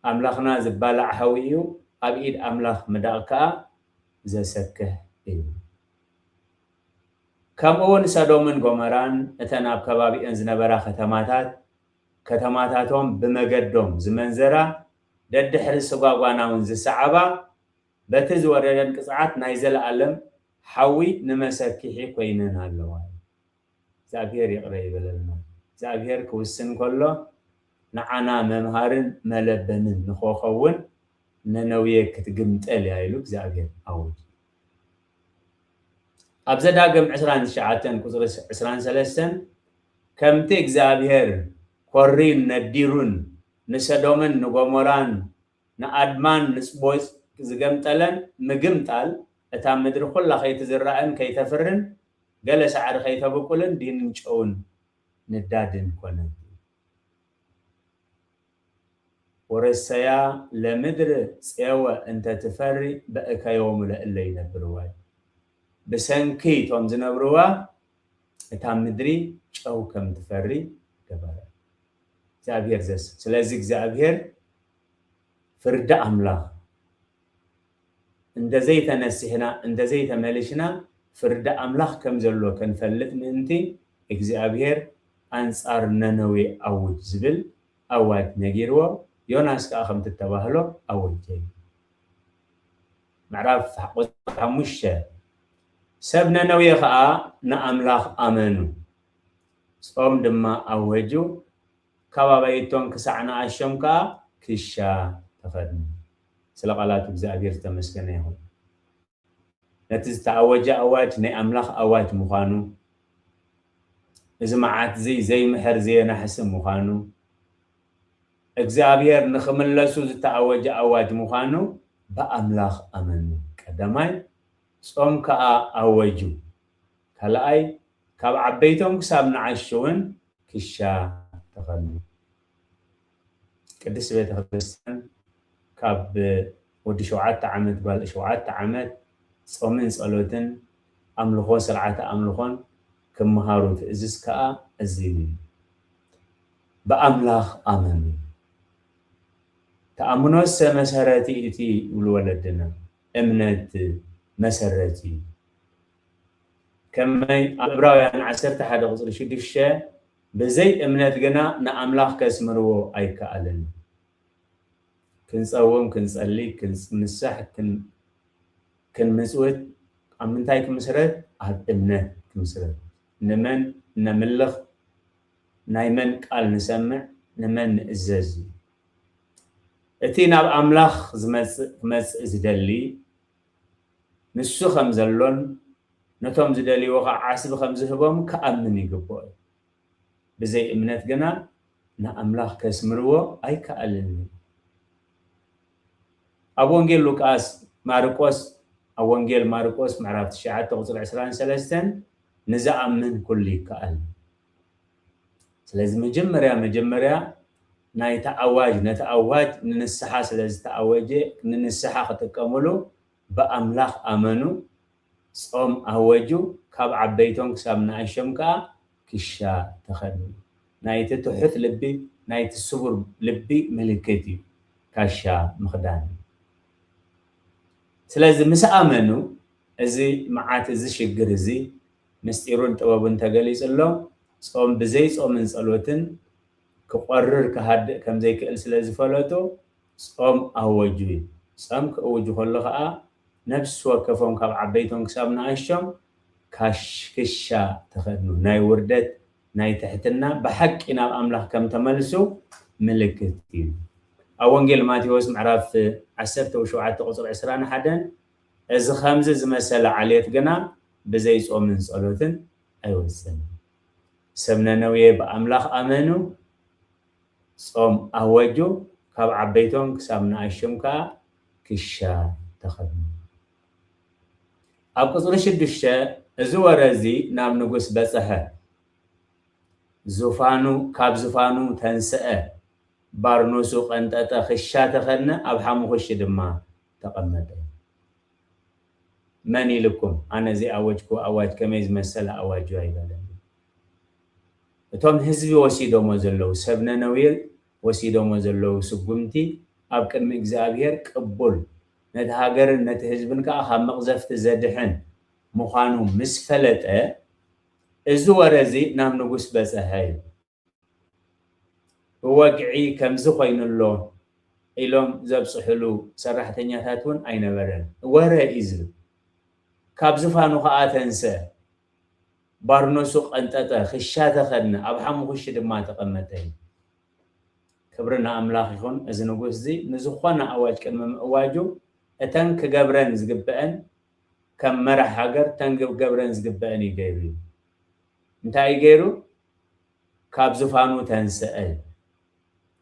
ኣምላኽና ዝባላዕ ሓዊ እዩ፣ ኣብ ኢድ ኣምላኽ ምዳቕ ከኣ ዘሰክሕ እዩ። ከምኡውን ሰዶምን ጎመራን እተን ኣብ ከባቢኦን ዝነበራ ከተማታት ከተማታቶም ብመገዶም ዝመንዘራ ደድሕሪ ስጓጓናውን ዝሰዓባ በቲ ዝወረደን ቅጽዓት ናይ ዘለኣለም ሓዊ ንመሰኪሒ ኮይነን ኣለዋ። እግዚኣብሔር ይቅረ ይበለልና። እግዚኣብሔር ክውስን ከሎ ንዓና መምሃርን መለበምን ንኸኸውን ነነውየ ክትግምጠል እያ ኢሉ እግዚኣብሔር ኣውጁ። ኣብ ዘዳግም ዕስራን ትሽዓተን ቁጽሪ ዕስራን ሰለስተን ከምቲ እግዚኣብሔር ኮሪን ነዲሩን ንሰዶምን ንጎሞራን ንኣድማን ንጽቦጽ ዝገምጠለን ምግምጣል እታ ምድሪ ኩላ ከይትዝራእን ከይተፍርን ገለ ሳዕሪ ከይተብቁልን ዲንን ጨውን ንዳድን ኮነት። ወረሰያ ለምድር ጼወ እንተ ትፈሪ በእከዮሙ ለእለ ይነብርዋ እዩ። ብሰንኪ እቶም ዝነብርዋ እታ ምድሪ ጨው ከም ትፈሪ ገበረ። እግዚኣብሄር ዘስ ስለዚ እግዚኣብሄር ፍርዲ ኣምላኽ እንተ ዘይተነሲሕና እንተ ዘይተመሊሽና ፍርዲ ኣምላኽ ከም ዘሎ ክንፈልጥ ምእንቲ እግዚኣብሄር ኣንጻር ነነዌ ኣውጅ ዝብል ኣዋጅ ነጊርዎ ዮናስ ከኣ ከምቲ እተባህሎ ኣወጀ እዩ። ምዕራፍ ቁጽሪ ሓሙሽተ ሰብ ነነዌ ከኣ ንኣምላኽ ኣመኑ ጾም ድማ ኣወጁ ካብ ኣባይቶን ክሳዕ ንኣሾም ከኣ ክሻ ተኸድኑ። ስለ ቃላት እግዚኣብሔር ዝተመስገነ ይኹን። ነቲ ዝተኣወጀ ኣዋጅ ናይ ኣምላኽ ኣዋጅ ምዃኑ፣ እዚ መዓት'ዚ ዘይምሕር ዘየናሕስን ምዃኑ፣ እግዚኣብሔር ንኽምለሱ ዝተኣወጀ ኣዋጅ ምዃኑ ብኣምላኽ ኣመኑ። ቀዳማይ፣ ጾም ከኣ ኣወጁ። ካልኣይ፣ ካብ ዓበይቶም ክሳብ ንዓሹ ውን ክሻ ተኸሉ። ቅድስት ቤተ ክርስቲያን ካብ ወዲ ሸውዓተ ዓመት ጓል ሸውዓተ ዓመት ጾምን ጸሎትን ኣምልኾ ስርዓተ ኣምልኾን ክመሃሩ ትእዝዝ ከኣ እዚ እዩ። ብኣምላኽ ኣመኑ። ተኣምኖሰ መሰረት'ቲ ይብሉ ወለድና። እምነት መሰረት እዩ። ከመይ ኣብ ዕብራውያን ዓሰርተ ሓደ ቁጽሪ ሽዱሽተ ብዘይ እምነት ግና ንኣምላኽ ከስምርዎ ኣይከኣልን። ክንጸውም ክንጸሊ ክንምሳሕ ክንምጽውት ኣብ ምንታይ ክምስረት ኣብ እምነት ክምስረት ንመን ነምልኽ ናይ መን ቃል ንሰምዕ ንመን ንእዘዝ እዩ እቲ ናብ ኣምላኽ ዝመጽእ ክመጽእ ዝደሊ ንሱ ኸም ዘሎን ነቶም ዚደልይዎ ኸኣ ዓስቢ ኸም ዚህቦም ኪኣምን ይግብኦ እዩ። ብዘይ እምነት ግና ንኣምላኽ ኬስምርዎ ኣይከኣልን እዩ። ኣብ ወንጌል ሉቃስ፣ ማርቆስ፣ ኣብ ወንጌል ማርቆስ ምዕራፍ ትሽዓተ ቁጽሪ ዕስራን ሰለስተን ንዝኣምን ኩሉ ይከኣል እዩ። ስለዚ መጀመርያ መጀመርያ ናይቲ ኣዋጅ ነቲ ኣዋጅ ንንስሓ ስለ ዝተኣወጀ ንንስሓ ክጥቀምሉ ብኣምላኽ ኣመኑ ጾም ኣወጁ ካብ ዓበይቶም ክሳብ ንኣሽም ከኣ ክሻ ተኸድኑ ናይቲ ትሑት ልቢ ናይቲ ስቡር ልቢ ምልክት እዩ ካሻ ምኽዳን ስለዚ ምስ ኣመኑ እዚ መዓት እዚ ሽግር እዚ ምስጢሩን ጥበቡን ተገሊጽሎም ጾም ብዘይ ጾምን ጸሎትን ክቆርር ክሃድእ ከም ዘይክእል ስለ ዝፈለጡ ጾም ኣወጁ። ጸም ክእውጁ ከሎ ከኣ ነፍሲ ወከፎም ካብ ዓበይቶም ክሳብ ንኣሽቶም ካሽ ክሻ ተኸድኑ። ናይ ውርደት ናይ ትሕትና ብሓቂ ናብ ኣምላኽ ከም ተመልሱ ምልክት እዩ። ኣብ ወንጌል ማቴዎስ ምዕራፍ ዓሰርተ ወሸውዓተ ቁጽሪ ዕስራን ሓደን እዚ ከምዚ ዝመሰለ ዓሌት ግና ብዘይ ጾምን ጸሎትን ኣይወጽእን። ሰብ ነነዌ ብኣምላኽ ኣመኑ፣ ጾም ኣወጁ፣ ካብ ዓበይቶም ክሳብ ንኣሽቱም ከኣ ክሻ ተኸድኑ። ኣብ ቍጽሪ ሽዱሽተ እዚ ወረ እዚ ናብ ንጉስ በጽሐ፣ ዙፋኑ ካብ ዙፋኑ ተንስአ፣ ባርኖሱ ቀንጠጠ፣ ክሻ ተኸድነ፣ ኣብ ሓሙዅሽቲ ድማ ተቐመጠ። መን ኢሉኩም ኣነ ዘይኣወጅኩዎ ኣዋጅ ከመይ ዝመሰለ ኣዋጅ እዩ ኣይበለን እዩ። እቶም ህዝቢ ወሲዶሞ ዘለዉ ሰብ ነነዌል ወሲዶሞ ዘለዉ ስጉምቲ ኣብ ቅድሚ እግዚኣብሄር ቅቡል ነቲ ሃገርን ነቲ ህዝብን ከኣ ካብ መቕዘፍቲ ዘድሕን ምዃኑ ምስ ፈለጠ እዚ ወረ እዚ ናብ ንጉስ በጸሐ ይብል። ብወግዒ ከምዚ ኮይኑ ኣሎ ኢሎም ዘብጽሑሉ ሰራሕተኛታት ውን ኣይነበረን። ወረ ኢዩ ዝብል። ካብ ዝፋኑ ከኣ ተንስአ። ባርኖሱ ቀንጠጠ፣ ክሻ ተኸድነ፣ ኣብ ሓሙኹሽቲ ድማ ተቐመጠ ኢዩ። ክብሪ ንኣምላኽ ይኹን፣ እዚ ንጉስዚ ንዝኾነ ኣዋጅ ቅድሚ ምእዋጁ እተን ክገብረን ዝግበኣን ከም መራሕ ሃገር እተን ክገብረን ዝግበኣን ኢዩ ገይሩ ኢዩ። እንታይ ኢዩ ገይሩ? ካብ ዝፋኑ ተንስኣ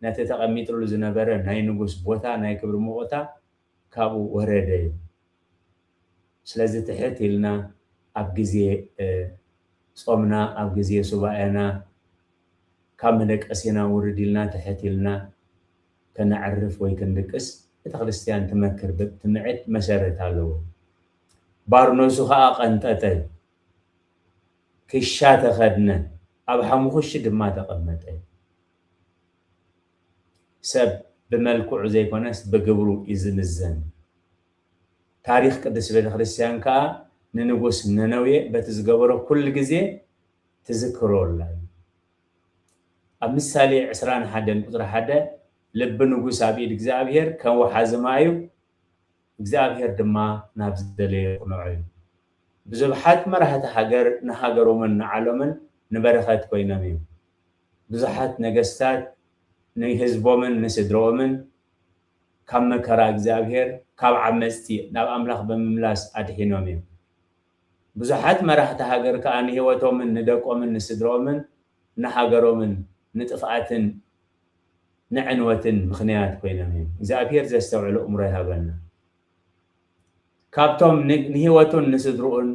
ነቲ ተቐሚጥሉ ዝነበረ ናይ ንጉስ ቦታ ናይ ክብሪ ሞቖታ ካብኡ ወረደ ስለዚ ትሕት ኢልና ኣብ ግዜ ጾምና ኣብ ግዜ ሱባኤና ካብ መደቀሲና ውርድ ኢልና ትሕት ኢልና ከነዕርፍ ወይ ክንድቅስ ቤተክርስትያን ትመክር ትምዕድ መሰረት ኣለዎ ባርኖሱ ከኣ ቀንጠጠ ክሻ ተኸድነ፣ ኣብ ሓሙኽሽቲ ድማ ተቐመጠ። ሰብ ብመልክዑ ዘይኮነስ ብግብሩ እዩ ዝምዘን። ታሪኽ ቅድስት ቤተ ክርስቲያን ከኣ ንንጉስ ነነዌ በቲ ዝገበሮ ኩሉ ግዜ ትዝክሮ ኣላ እዩ። ኣብ ምሳሌ ዕስራን ሓደን ቁጽሪ ሓደ ልቢ ንጉስ ኣብ ኢድ እግዚኣብሔር ከም ወሓዚ ማይ እዩ፣ እግዚኣብሔር ድማ ናብ ዝደለዮ የቕንዖ እዩ። ብዙብሓት መራህቲ ሃገር ንሃገሮምን ንዓሎምን ንበረኸት ኮይኖም እዮም። ብዙሓት ነገስታት ንህዝቦምን ንስድርኦምን ካብ መከራ እግዚኣብሔር ካብ ዓመጽቲ ናብ ኣምላኽ ብምምላስ ኣድሒኖም እዮም። ብዙሓት መራህቲ ሃገር ከኣ ንሕይወቶምን ንደቆምን ንስድርኦምን ንሃገሮምን ንጥፍኣትን ንዕንወትን ምኽንያት ኮይኖም እዮም እግዚኣብሄር ዘስተውዕል ኣእምሮ ይሃበና ካብቶም ንህይወቱን ንስድርኡን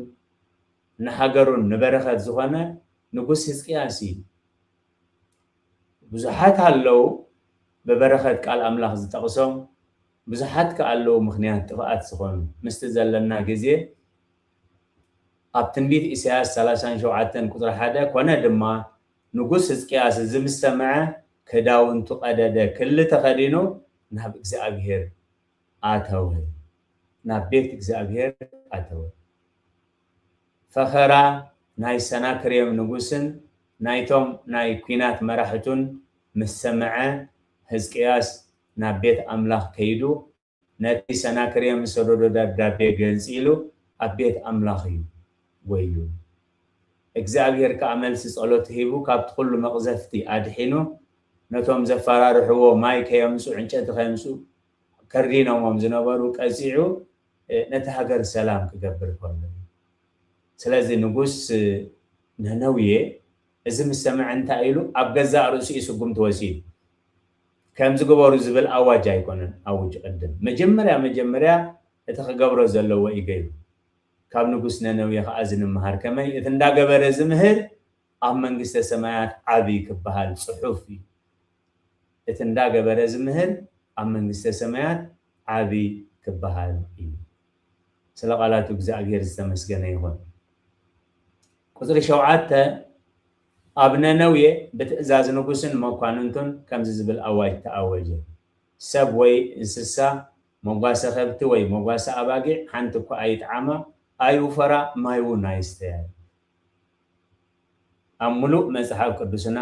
ንሃገሩን ንበረኸት ዝኾነ ንጉስ ህዝቅያስ እዩ ብዙሓት ኣለዉ ብበረኸት ቃል ኣምላኽ ዝጠቕሶም ብዙሓት ከኣለዉ ምኽንያት ጥፍኣት ዝኾኑ ምስቲ ዘለና ግዜ ኣብ ትንቢት ኢሳይያስ ሰላሳን ሸውዓተን ቁጽሪ ሓደ ኰነ ድማ ንጉስ ህዝቅያስ እዚ ምስ ሰምዐ ክዳውንቱ ቀደደ፣ ክሊ ተኸዲኑ ናብ እግዚኣብሄር ኣተወ፣ ናብ ቤት እግዚኣብሄር ኣተወ። ፈኸራ ናይ ሰናክሬም ንጉስን ናይቶም ናይ ኲናት መራሕቱን ምስ ሰምዐ፣ ህዝቅያስ ናብ ቤት ኣምላኽ ከይዱ፣ ነቲ ሰናክሬም ዝሰደዶ ደብዳቤ ገንጺሉ ኣብ ቤት ኣምላኽ እዩ ጐይዩ። እግዚኣብሄር ከኣ መልሲ ጸሎቱ ሂቡ ካብቲ ዅሉ መቕዘፍቲ ኣድሒኑ ነቶም ዘፈራርሕዎ ማይ ከየምጽኡ ዕንጨቲ ከየምጽኡ ከሪኖሞም ዝነበሩ ቀጺዑ ነታ ሃገር ሰላም ክገብር ከሎ እዩ። ስለዚ ንጉስ ነነውየ እዚ ምስ ሰምዐ እንታይ ኢሉ ኣብ ገዛእ ርእሱ እዩ ስጉምቲ ወሲዱ። ከምዚ ግበሩ ዝብል ኣዋጅ ኣይኮነን ኣዊጁ ቅድም መጀመርያ መጀመርያ እቲ ክገብሮ ዘለዎ እዩ ገይሩ። ካብ ንጉስ ነነዌ ከኣ እዚ ንመሃር ከመይ እቲ እንዳገበረ ዝምህር ኣብ መንግስተ ሰማያት ዓቢ ክበሃል ጽሑፍ እዩ። እቲ እንዳገበረ ዝምህር ኣብ መንግስተ ሰማያት ዓቢ ክበሃል እዩ። ስለ ቃላቱ እግዝኣብሄር ዝተመስገነ ይኹን። ቁጽሪ ሸውዓተ፣ ኣብ ነነዌ ብትእዛዝ ንጉስን መኳንንቱን ከምዚ ዝብል ኣዋጅ ተኣወጀ፣ ሰብ ወይ እንስሳ፣ መጓሰ ከብቲ ወይ መጓሰ ኣባጊዕ ሓንቲ እኳ ኣይጥዓማ፣ ኣይውፈራ፣ ማይውን ኣይስተያ ኢሉ። ኣብ ምሉእ መጽሓፍ ቅዱስና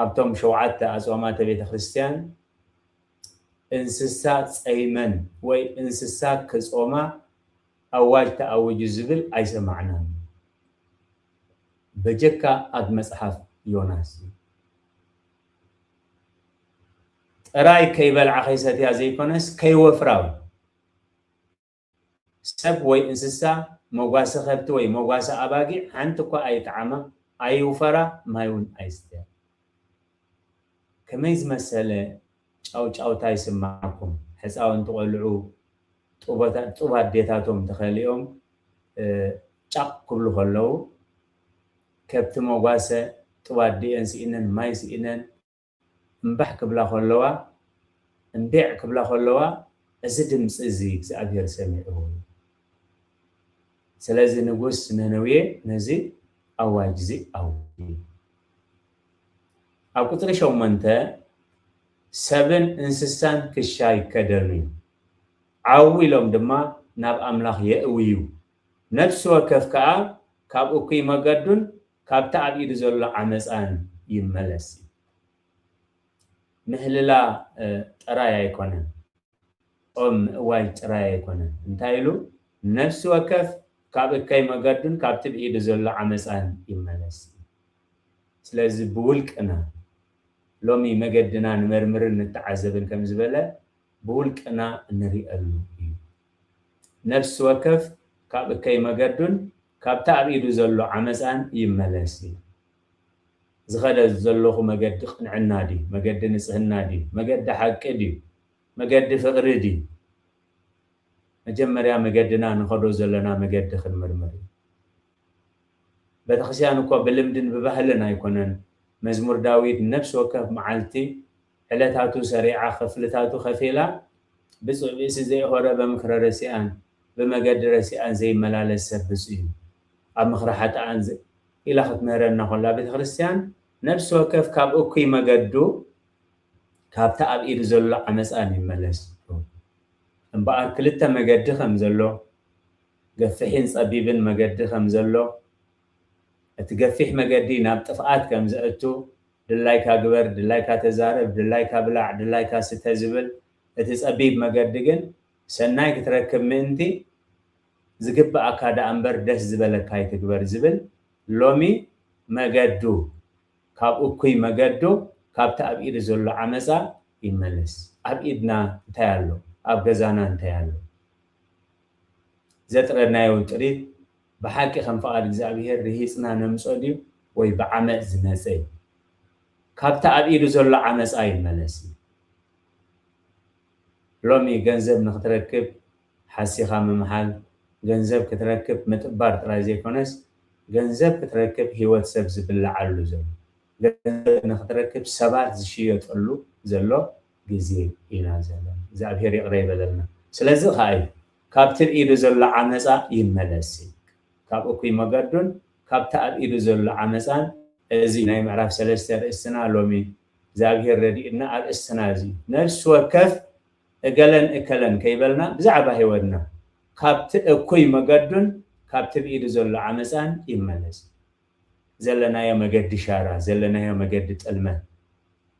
ኣብቶም ሸውዓተ ኣጽዋማተ ቤተ ክርስትያን እንስሳ ጸይመን ወይ እንስሳ ክጾማ፣ ኣዋጅ ተኣዊጁ ዝብል ኣይሰማዕናን በጀካ ኣብ መጽሓፍ ዮናስ እዩ። ጥራይ ከይበልዓ ከይሰትያ ዘይኮነስ ከይወፍራ ውን። ሰብ ወይ እንስሳ መጓሰ ከብቲ ወይ መጓሰ ኣባጊዕ ሓንቲ እኳ ኣይጥዓማ ኣይውፈራ ማይ ውን ኣይስተያ። ከመይ ዝመሰለ ጫውጫውታ ይስማዓኩም ሕጻውንቲ ቆልዑ ጡብ ኣዴታቶም ተከሊኦም ጫቅ ክብሉ ከለዉ ከብቲ መጓሰ ጡብ ኣዲኤን ሲኢነን ማይ ሲኢነን እምባሕ ክብላ ከለዋ እምቤዕ ክብላ ከለዋ እዚ ድምጺ እዚ እግዚኣብሄር ሰሚዑ እዩ ስለዚ ንጉስ ነነዌ ነዚ ኣዋጅ እዚ ኣውጅ። ኣብ ቁጽሪ ሸሞንተ፣ ሰብን እንስሳን ክሻ ይከደኑ'ዩ፣ ዓው ኢሎም ድማ ናብ ኣምላኽ የእውዩ፣ ነፍሲ ወከፍ ከኣ ካብ እኩይ መገዱን ካብቲ ኣብ ኢዱ ዘሎ ዓመጻን ይመለስ። ምህልላ ጥራይ ኣይኮነን። ጾም ምእዋጅ ጥራይ ኣይኮነን፣ እንታይ ኢሉ ነፍሲ ወከፍ ካብ እከይ መገዱን ካብቲ ብኢዱ ዘሎ ዓመጻን ይመለስ ኢዩ። ስለዚ ብውልቅና ሎሚ መገድና ንመርምርን ንተዓዘብን ከም ዝበለ ብውልቅና እንርእየሉ ኢዩ። ነፍሲ ወከፍ ካብ እከይ መገዱን ካብቲ ኣብ ኢዱ ዘሎ ዓመጻን ይመለስ ኢሉ። ዝኸደ ዘሎኹ መገዲ ቕንዕና ድዩ? መገዲ ንጽህና ድዩ? መገዲ ሓቂ ድዩ? መገዲ ፍቕሪ ድዩ? መጀመርያ መገድና ንኸዶ ዘሎና መገዲ ክንምርምር እዩ። ቤተክርስቲያን እኮ ብልምድን ብባህልን ኣይኮነን መዝሙር ዳዊት ነፍሲ ወከፍ መዓልቲ ዕለታቱ ሰሪዓ ክፍልታቱ ከፊላ ብፁዕ ብእሲ ዘይሆረ በምክረ ረሲኣን ብመገዲ ረሲኣን ዘይመላለስ ሰብ ብፁዕ እዩ ኣብ ምክረ ሓጥኣን ዘ ኢላ ክትምህረና ኮላ ቤተ ክርስቲያን ነፍሲ ወከፍ ካብ እኩይ መገዱ ካብቲ ኣብ ኢዱ ዘሎ ዓመፃ ንይመለስ እምበኣር ክልተ መገዲ ከም ዘሎ ገፍሒን ፀቢብን መገዲ ከም ዘሎ እቲ ገፊሕ መገዲ ናብ ጥፍኣት ከም ዘእቱ ድላይካ ግበር፣ ድላይካ ተዛረብ፣ ድላይካ ብላዕ፣ ድላይካ ስተ ዝብል እቲ ጸቢብ መገዲ ግን ሰናይ ክትረክብ ምእንቲ ዝግብኣካ ደኣምበር ደስ ዝበለካ ኣይትግበር ዝብል ሎሚ መገዱ ካብ እኩይ መገዱ ካብቲ ኣብ ኢዱ ዘሎ ዓመጻ ይመለስ። ኣብ ኢድና እንታይ ኣሎ? ኣብ ገዛና እንታይ ኣሎ? ዘጥረናዮ ጥሪት ብሓቂ ከም ፍቓድ እግዚኣብሄር ርሂጽና ነምጾ ድዩ ወይ ብዓመጽ ዝመጸ እዩ? ካብቲ ኣብ ኢዱ ዘሎ ዓመጻ ይመለስ እዩ። ሎሚ ገንዘብ ንኽትረክብ ሓሲኻ ምምሓል፣ ገንዘብ ክትረክብ ምጥባር ጥራይ ዘይኮነስ ገንዘብ ክትረክብ ህይወት ሰብ ዝብላዓሉ ዘሎ፣ ገንዘብ ንኽትረክብ ሰባት ዝሽየጠሉ ዘሎ ግዜ ኢና ዘለና። እግዚኣብሄር ይቕረ ይበለልና። ስለዚ ኸኣ እዩ። ካብቲ ኣብ ኢዱ ዘሎ ዓመጻ ይመለስ ኢልክ ካብ እኩይ መገዱን ካብቲ ኣብ ኢዱ ዘሎ ዓመጻን እዚ ናይ ምዕራፍ ሰለስተ ኣርእስትና ሎሚ እግዚኣብሄር ረዲኡና ኣርእስትና እዚ እዩ ነፍሲ ወከፍ እገለን እከለን ከይበልና ብዛዕባ ህይወትና ካብቲ እኩይ መገዱን ካብቲ ኣብ ኢዱ ዘሎ ዓመጻን ይመለስ ዘለናዮ መገዲ ሻራ ዘለናዮ መገዲ ጥልመት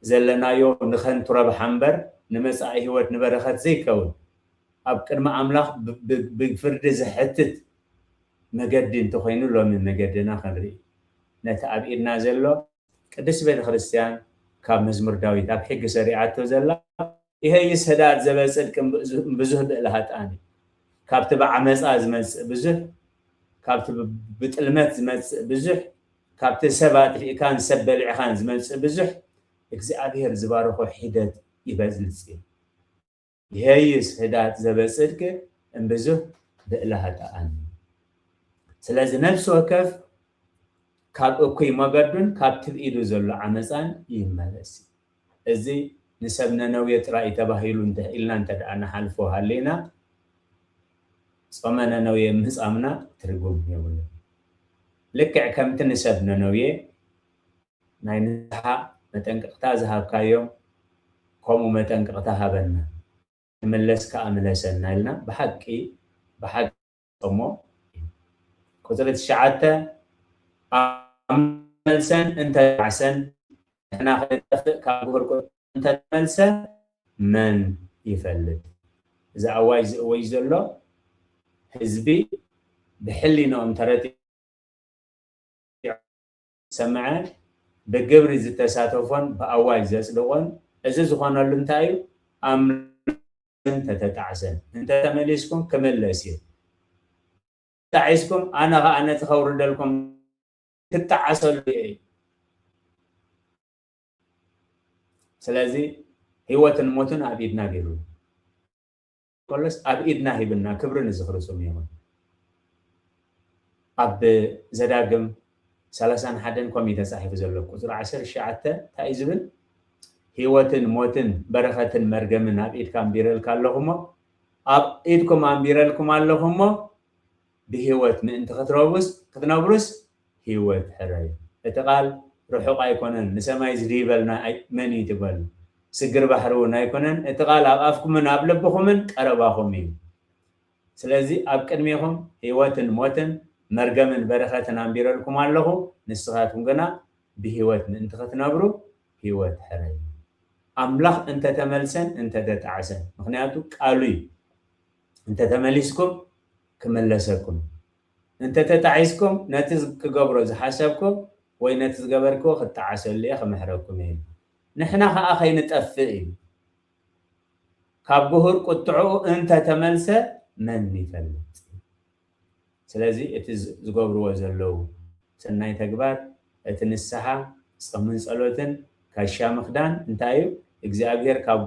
ዘለናዮ ንከንቱ ረብሓ እምበር ንመጻኢ ህይወት ንበረከት ዘይከውን ኣብ ቅድሚ ኣምላኽ ብፍርዲ ዘሕትት መገዲ እንተኾይኑ ሎሚ መገድና ክንርኢ ነቲ ኣብ ኢድና ዘሎ ቅድስቲ ቤተ ክርስቲያን ካብ መዝሙር ዳዊት ኣብ ሕጊ ሰሪዓቶ ዘላ ኢሀይስ ህዳት ዘበጽድቅ እምብዙህ ብእለ ሀጥኣን እዩ ካብቲ ብዓመጻ ዝመጽእ ብዙህ ካብቲ ብጥልመት ዝመጽእ ብዙህ ካብቲ ሰብ ኣጥፊእካን ሰብ በሊዕኻን ዝመጽእ ብዙህ እግዚኣብሔር ዝባረኾ ሒደት ይበዝልጽ እዩ። ይሔዩስ ህዳት ዘበጽድቅ እምብዙህ ብእለ ሀጣኣን። ስለዚ ነፍሲ ወከፍ ካብ እኩይ መገዱን ካብ ትብ ኢዱ ዘሎ ዓመጻን ይመለስ እዩ። እዚ ንሰብ ነነዌ ጥራይ እዩ ተባሂሉ እንተ ኢልና እንተ ንሓልፎ ሃሊና ጾመ ነነዌ ምህጻምና ትርጉም የብሉን። ልክዕ ከምቲ ንሰብ ነነዌ። ናይ ንስሓ መጠንቀቅታ ዝሃብካዮም ከምኡ መጠንቀቅታ ሃበና ንመለስ ከኣ ምለሰና ኢልና ብሓቂ ብሓቂ እሞ እዩ ቁጽሪ ትሽዓተ ኣምላኽ መልሰን እንተ ዓሰን ንሕና ክንጠፍእ ካብ ጉሁር ቁጥሪ እንተ ተመልሰ መን ይፈልጥ እዚ ኣዋጅ ዝእወጅ ዘሎ ህዝቢ ብሕሊንኦም ተረቲዖም ዝሰምዐ፣ ብግብሪ ዝተሳተፎን ብኣዋጅ ዘጽድቖን፣ እዚ ዝኾነሉ እንታይ እዩ? ኣምልኹኒ እንተተጣዕሰን፣ እንተ ተመሊስኩም ክምለስ እዩ፣ እንተጣዒስኩም ኣነ ኸኣ ነቲ ከውርደልኩም ክጣዓሰሉ እየ እዩ። ስለዚ ህይወትን ሞትን ኣብ ኢድና ገይሩ እዩ። ኮሎስ ኣብ ኢድና ሂብና ክብሪ ንዝኽሪ ስሙ ይኹን ኣብ ዘዳግም ሰላሳን ሓደን ከምኡ እዩ ተጻሒፉ ዘሎ ቁጽሪ ዓሰርተ ትሽዓተ እንታይ እዩ ዝብል ህይወትን ሞትን በረኸትን መርገምን ኣብ ኢድካ ኣንቢረልካ ኣለኹ እሞ ኣብ ኢድኩም ኣንቢረልኩም ኣለኹ እሞ ብህይወት ምእንቲ ኽትረውስ ኽትነብሩስ ህይወት ሕረዩ። እቲ ቓል ርሑቕ ኣይኮነን ንሰማይ ዝድይበልና ኣይ መን እዩ ትበሉ ስግር ባሕሪ ውን ኣይኮነን እቲ ቓል ኣብ ኣፍኩምን ኣብ ልብኹምን ቀረባኹም እዩ ስለዚ ኣብ ቅድሜኹም ህይወትን ሞትን መርገምን በረኸትን ኣንቢረልኩም ኣለኹ ንስኻትኩም ግና ብህይወት ምእንቲ ኽትነብሩ ህይወት ሕረዩ ኣምላኽ እንተተመልሰን እንተተጣዕሰን ምኽንያቱ ቃሉ እዩ። እንተተመሊስኩም ክምለሰኩም፣ እንተተጣዒስኩም ነቲ ክገብሮ ዝሓሰብኩ ወይ ነቲ ዝገበርክዎ ክጣዓሰሉ እየ ክምሕረኩም እየ ኢሉ። ንሕና ከኣ ከይንጠፍእ ኢሉ ካብ ግሁር ቁጥዕኡ እንተተመልሰ መን ይፈልጥ። ስለዚ እቲ ዝገብርዎ ዘለዉ ሰናይ ተግባር እቲ ንስሓ ጸምን ጸሎትን ካሻ ምክዳን እንታይ እዩ እግዚኣብሄር ካብ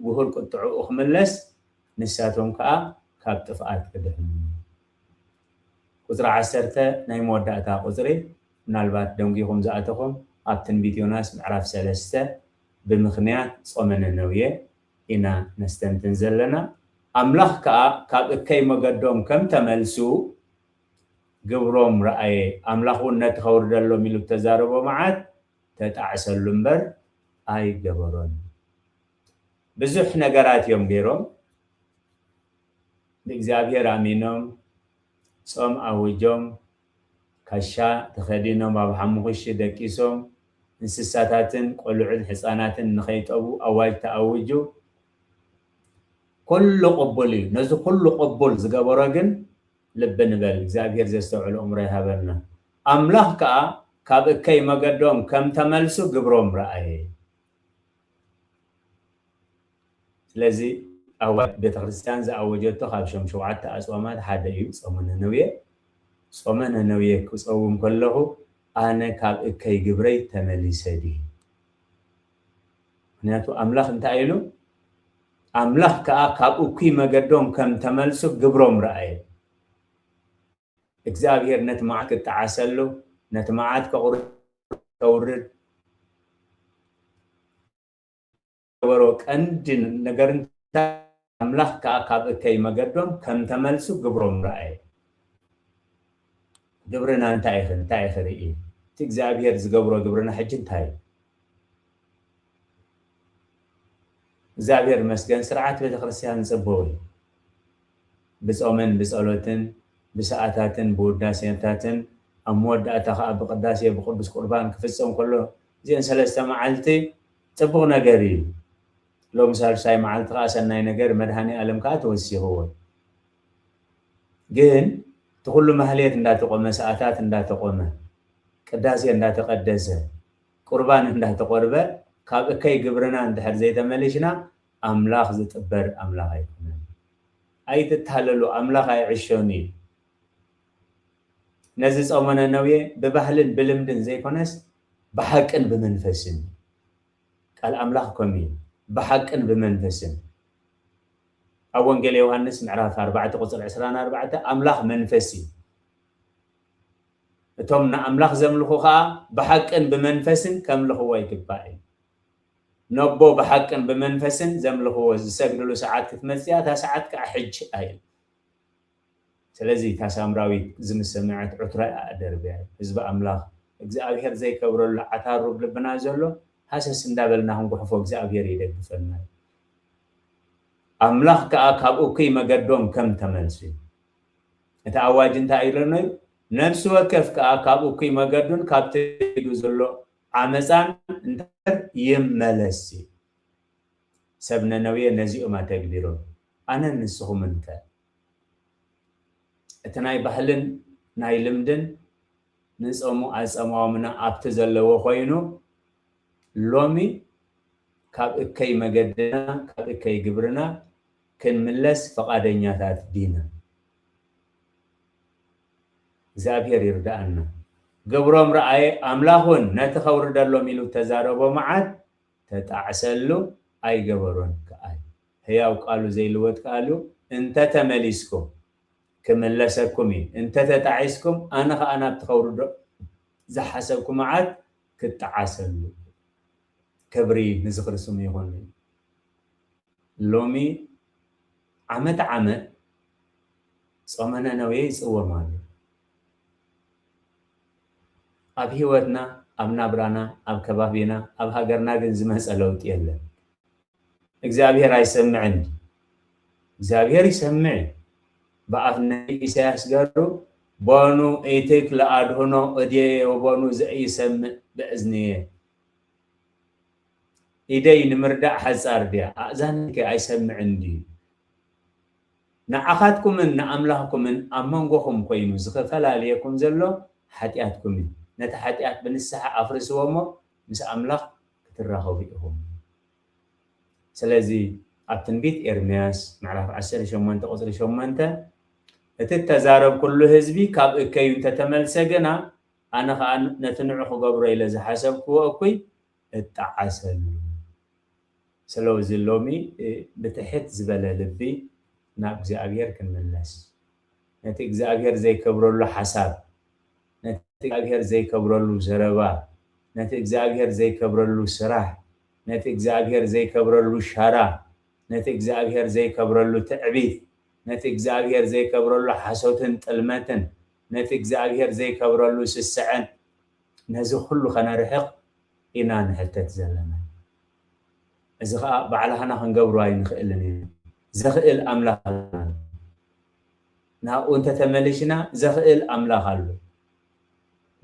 ጉሁር ቁጥዕኡ ክምለስ ንሳቶም ከኣ ካብ ጥፍኣት ክድሕኑ ቁጽሪ ዓሰርተ ናይ መወዳእታ ቁጽሪ ምናልባት ደንጒኹም ዝኣተኹም ኣብ ትንቢት ዮናስ ምዕራፍ ሰለስተ ብምኽንያት ጾመ ነነውየ ኢና ነስተንትን ዘለና። ኣምላኽ ከኣ ካብ እከይ መገዶም ከም ተመልሱ ግብሮም ረኣየ፣ ኣምላኽ እውን ነቲ ከውርደሎም ኢሉ እተዛረቦ መዓት ተጣዕሰሉ እምበር ኣይገበሮን። ብዙሕ ነገራት እዮም ገይሮም፣ ንእግዚኣብሄር ኣሚኖም፣ ጾም ኣዊጆም፣ ካሻ ተኸዲኖም ኣብ ሓሙኹሺ ደቂሶም እንስሳታትን ቆልዑን ሕጻናትን ንኸይጠቡ ኣዋጅ ተኣውጁ ኩሉ ቅቡል እዩ ነዚ ኩሉ ቅቡል ዝገበሮ ግን ልቢ ንበል እግዚኣብሄር ዘስተውዕል እእምሮ ይሃበና ኣምላኽ ከኣ ካብ እከይ መገዶም ከም ተመልሱ ግብሮም ረኣየ። ስለዚ ኣዋጅ ቤተክርስትያን ዝኣወጀቶ ካብ ሸም ሸውዓተ ኣጽዋማት ሓደ እዩ ጾመ ነነውየ። ጾመ ነነውየ ክጸውም ከለኹ ኣነ ካብ እከይ ግብረይ ተመሊሰ ድየ? ምኽንያቱ ኣምላኽ እንታይ ኢሉ ኣምላኽ ከኣ ካብ እኩይ መገዶም ከም ተመልሱ ግብሮም ረኣየ። እግዝኣብሄር ነቲ መዓት ክጠዓሰሉ ነቲ መዓት ከቑርር ከውርድ። ዝገበሮ ቀንዲ ነገር እንታይ ኣምላኽ ከኣ ካብ እከይ መገዶም ከም ተመልሱ ግብሮም ረኣየ። ግብርና እንታይ ኢኺ እንታይ ኢኺ ርኢ እቲ እግዚኣብሄር ዝገብሮ ግብርና ሕጂ እንታይ እዩ? እግዚኣብሄር ይመስገን ስርዓት ቤተክርስትያን ጽቡቕ እዩ። ብጾምን ብጸሎትን ብሰኣታትን ብውዳሴታትን ኣብ መወዳእታ ከኣ ብቅዳሴ ብቅዱስ ቁርባን ክፍጸም ከሎ እዚኤን ሰለስተ መዓልቲ ጽቡቅ ነገር ኢዩ ሎሚ ሳልሳይ መዓልቲ ከኣ ሰናይ ነገር መድሃኒኣለም ከኣ ተወሲኽዎ ግን እቲ ኩሉ ማህሌት እንዳተቆመ ሰኣታት እንዳተቆመ ቅዳሴ እንዳተቀደሰ ቁርባን እንዳተቆርበ ካብ እከይ ግብርና እንድሕር ዘይተመሊሽና ኣምላኽ ዝጥበር ኣምላኽ ኣይኮነን ኣይትታለሉ ኣምላኽ ኣይዕሾን ኢዩ ነዚ ጾሞነ ነውየ ብባህልን ብልምድን ዘይኮነስ ብሓቅን ብመንፈስን ቃል ኣምላኽ ከምኡ እዩ ብሓቅን ብመንፈስን ኣብ ወንጌል ዮሃንስ ምዕራፍ ኣርባዕተ ቁፅሪ ዕስራን ኣርባዕተ ኣምላኽ መንፈስ እዩ እቶም ንኣምላኽ ዘምልኹ ከዓ ብሓቅን ብመንፈስን ከምልኽዎ ይግባእ እዩ ነቦ ብሓቅን ብመንፈስን ዘምልኽዎ ዝሰግድሉ ሰዓት ክትመፅእ እያ እታ ሰዓት ከዓ ሕጂ እዩ ስለዚ እታ ሳምራዊት እዚ ምስ ሰምዐት ዑትራ እያ ኣደርብያ። ህዝቢ ኣምላኽ እግዝኣብሄር ዘይከብረሉ ዓታሩ ኣብ ልብና ዘሎ ሃሰስ እንዳበልና ክንጉሕፎ እግዝኣብሄር ይደግፈና እዩ። ኣምላኽ ከኣ ካብ እኩይ መገዶም ከም ተመልሱ እዩ። እቲ ኣዋጅ እንታይ ኢሎኖ እዩ ነፍሲ ወከፍ ከኣ ካብ እኩይ መገዱን ካብቲ ኢዱ ዘሎ ዓመጻን እንተ ይመለስ እዩ። ሰብ ነነዌ ነዚኦም ኣተግቢሮም። ኣነን ንስኹምን ከ? እቲ ናይ ባህልን ናይ ልምድን ንጸሙ ኣጸማውምና ኣብቲ ዘለዎ ኮይኑ፣ ሎሚ ካብ እከይ መገድና ካብ እከይ ግብርና ክንምለስ ፍቓደኛታት ዲና? እግዚኣብሄር ይርድኣና። ግብሮም ረኣየ ኣምላኽ ውን ነቲ ከውርደሎም ኢሉ እተዛረቦ መዓት ተጣዕሰሉ ኣይገበሮን ክኣዩ ሕያው ቃሉ ዘይልወጥ ክኣሉ እንተ ተመሊስኩም ክምለሰኩም እዩ እንተ ተጣዒስኩም ኣነ ኸኣ ናብቲ ከውርዶ ዝሓሰብኩ መዓት ክጣዓሰሉ እዩ ክብሪ ንዝኽሪ ስሙ ይኹን ሎሚ ዓመት ዓመት ጾመ ነነዌ ይጽወም ኣሎ ኣብ ሂወትና ኣብ ናብራና ኣብ ከባቢና ኣብ ሃገርና ግን ዝመጸ ለውጢ የለን እግዚኣብሄር ኣይሰምዕን እዩ እግዚኣብሄር ይሰምዕ እዩ ብኣፍ ነቢ ኢሳያስ ገሩ በኑ ኢትክ ለኣድህኖ እድየ ወበኑ ዘኢይሰምእ በእዝንየ ኢደይ ንምርዳእ ሓጻር ድያ ኣእዛነይከ ኣይሰምዕን ድዩ። ንዓኻትኩምን ንኣምላኽኩምን ኣብ መንጎኹም ኮይኑ ዝኽፈላልየኩም ዘሎ ሓጢኣትኩም እዩ። ነቲ ሓጢኣት ብንስሓ ኣፍርስዎ እሞ ምስ ኣምላኽ ክትራኸቡ ኢኹም። ስለዚ ኣብ ትንቢት ኤርምያስ ምዕራፍ ዓሰርተ ሸሞንተ ቁጽሪ ሸሞንተ እቲ እተዛረብኩሉ ህዝቢ ካብ እከዩ እንተ ተመልሰ ግና፣ ኣነ ኸኣ ነቲ ንዑ ክገብሮ ኢለ ዝሓሰብክዎ እኩይ እጣዓሰሉ ሰለዚ ሎሚ ብትሕት ዝበለ ልቢ ናብ እግዚኣብሔር ክንምለስ ነቲ እግዚኣብሔር ዘይከብረሉ ሓሳብ ነቲ እግዚኣብሔር ዘይከብረሉ ዘረባ ነቲ እግዚኣብሔር ዘይከብረሉ ስራሕ ነቲ እግዚኣብሔር ዘይከብረሉ ሻራ ነቲ እግዚኣብሔር ዘይከብረሉ ትዕቢት ነቲ እግዚኣብሔር ዘይከብረሉ ሓሶትን ጥልመትን ነቲ እግዚኣብሔር ዘይከብረሉ ስስዐን ነዚ ኩሉ ከነርሕቕ ኢና ንሕተት ዘለና። እዚ ከኣ ባዕላህና ክንገብሮ ኣይንክእልን ኢና። ዘክእል ኣምላኽ ኣለና። ናብኡ እንተ ተመሊሽና ዘክእል ኣምላኽ ኣሎ።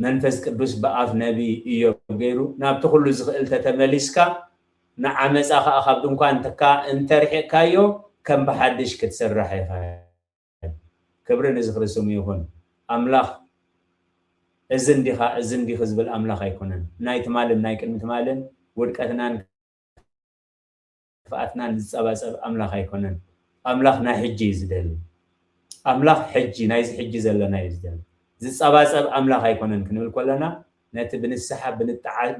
መንፈስ ቅዱስ ብኣፍ ነቢይ ኢዮብ ገይሩ ናብቲ ኩሉ ዝክእል ተተመሊስካ ንዓመጻ ከኣ ካብ ድንኳንትካ እንተ ኣርሒቕካዮ ከም ብሓድሽ ክትስራሕ ኢኻ። ክብሪ ንዝኽሪ ስሙ ይኹን። ኣምላኽ እዚ እንዲኻ እዚ እንዲኺ ዝብል ኣምላኽ ኣይኮነን። ናይ ትማልን ናይ ቅድሚ ትማልን ውድቀትናን ክፍኣትናን ዝጸባጸብ ኣምላኽ ኣይኮነን። ኣምላኽ ናይ ሕጂ እዩ ዝደሊ። ኣምላኽ ሕጂ ናይዚ ሕጂ ዘለና እዩ ዝደሊ። ዝጸባጸብ ኣምላኽ ኣይኮነን ክንብል ኮለና ነቲ ብንስሓ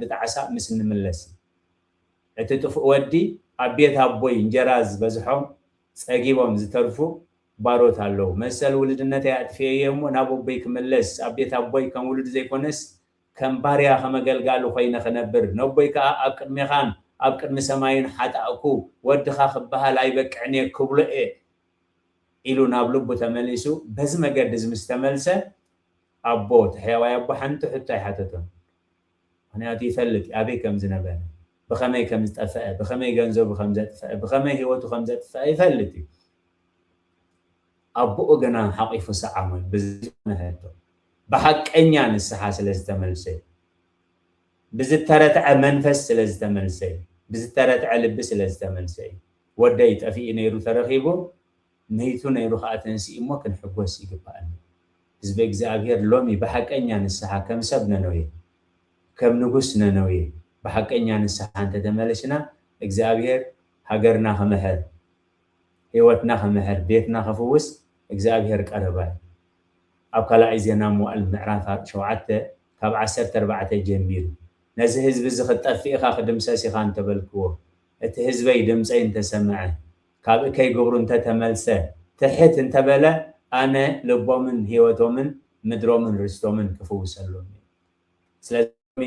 ብጣዕሳ ምስ እንምለስ እዩ። እቲ ጥፉእ ወዲ ኣብ ቤት ኣቦይ እንጀራ ዝበዝሖም ጸጊቦም ዝተርፉ ባሮት ኣለዉ። መሰል ውልድነተይ ኣጥፊኤዮ እሞ ናብ ኣቦይ ክምለስ ኣብ ቤት ኣቦይ ከም ውሉድ ዘይኮነስ ከም ባርያ ከም ኣገልጋሊ ኮይነ ክነብር ነቦይ ከኣ ኣብ ቅድሜኻን ኣብ ቅድሚ ሰማይን ሓጣእኩ ወድኻ ክበሃል ኣይበቅዕንየ ክብሎየ ኢሉ ናብ ልቡ ተመሊሱ በዚ መገዲ እዚ ምስ ተመልሰ ኣቦ እቲ ሕያዋይ ኣቦ ሓንቲ ሕቶ ኣይሓተቶን። ምኽንያቱ ይፈልጥ እዩ ኣበይ ከም ዝነበረ፣ ብኸመይ ከም ዝጠፈኣ፣ ብኸመይ ገንዘቡ ከም ዘጥፈኣ፣ ብኸመይ ህይወቱ ከም ዘጥፈኣ ይፈልጥ እዩ። ኣቦኡ ግና ሓቚፉ ሰዓሞን ብዝኰነ ሕቶ ብሓቀኛ ንስሓ ስለ ዝተመልሰ እዩ። ብዝተረትዐ መንፈስ ስለ ዝተመልሰ እዩ። ብዝተረትዐ ልቢ ስለ ዝተመልሰ እዩ። ወደይ ጠፊኡ ነይሩ ተረኺቡ መይቱ ነይሩ ከኣ ተንሲኡ እሞ ክንሕጎስ ይግበኣና ህዝበ እግዚኣብሔር ሎሚ ብሓቀኛ ንስሓ ከም ሰብ ነነዌ ከም ንጉስ ነነዌ ብሓቀኛ ንስሓ እንተተመለሽና እግዚኣብሔር ሃገርና ክምሕር ሕይወትና ክምሕር ቤትና ክፍውስ እግዚኣብሔር ቀረባ እዩ ኣብ ካላኣይ ዜና መዋእል ምዕራፍ ሸውዓተ ካብ ዓሰርተ ኣርባዕተ ጀሚሩ ነዚ ህዝቢ እዚ ክትጠፍእ ኢኻ ክድምሰስ ኢኻ እንተበልክዎ እቲ ህዝበይ ድምፀይ እንተሰምዐ ካብእ ከይገብሩ እንተ ተመልሰ፣ ትሕት እንተ በለ፣ ኣነ ልቦምን ህይወቶምን ምድሮምን ርስቶምን ክፍውሰሎም እየ። ስለዚ ሎሚ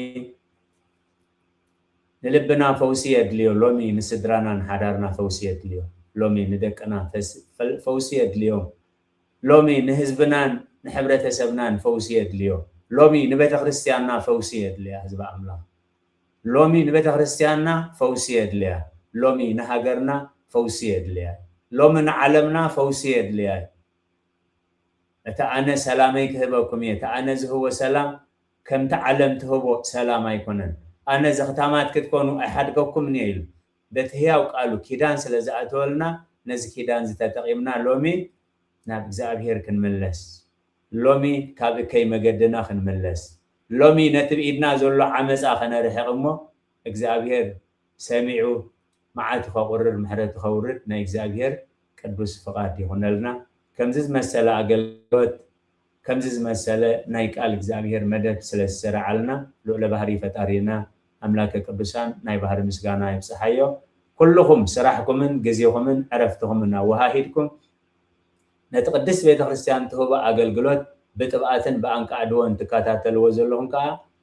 ንልብና ፈውሲ የድልዮ፣ ሎሚ ንስድራናን ሓዳርና ፈውሲ የድልዮ፣ ሎሚ ንደቅና ፈውሲ የድልዮም፣ ሎሚ ንህዝብናን ንሕብረተሰብናን ፈውሲ የድልዮ፣ ሎሚ ንቤተክርስትያንና ፈውሲ የድልያ ህዝቢ ኣምላኽ። ሎሚ ንቤተክርስትያንና ፈውሲ የድልያ ሎሚ ንሃገርና ፈውሲ የድልያ ሎሚ ንዓለምና ፈውሲ የድልያ እዩ እቲ ኣነ ሰላመይ ክህበኩም እየ እቲ ኣነ ዝህቦ ሰላም ከምቲ ዓለም ትህቦ ሰላም ኣይኮነን ኣነ ዘኽታማት ክትኮኑ ኣይሓድገኩምን እየ ኢሉ በቲ ህያው ቃሉ ኪዳን ስለ ዝኣተወልና ነዚ ኪዳን እዚ ተጠቂምና ሎሚ ናብ እግዚኣብሄር ክንምለስ ሎሚ ካብ እከይ መገድና ክንምለስ ሎሚ ነቲ ብኢድና ዘሎ ዓመጻ ከነርሕቅ እሞ እግዚኣብሄር ሰሚዑ መዓቱ ከቁርር ምሕረቱ ከውርድ ናይ እግዚኣብሄር ቅዱስ ፍቃድ ይኩነልና ከምዚ ዝመሰለ ኣገልግሎት ከምዚ ዝመሰለ ናይ ቃል እግዚኣብሔር መደብ ስለ ዝሰረዓልና ልኡለ ባህሪ ፈጣሪና ኣምላከ ቅዱሳን ናይ ባህሪ ምስጋና ይብፀሓዮ ኩሉኩም ስራሕኩምን ግዜኩምን ዕረፍትኩምን ኣወሃሂድኩም ነቲ ቅድስት ቤተክርስትያን ትህቦ ኣገልግሎት ብጥብኣትን ብኣንቃዕድዎን ትከታተልዎ ዘለኩም ከዓ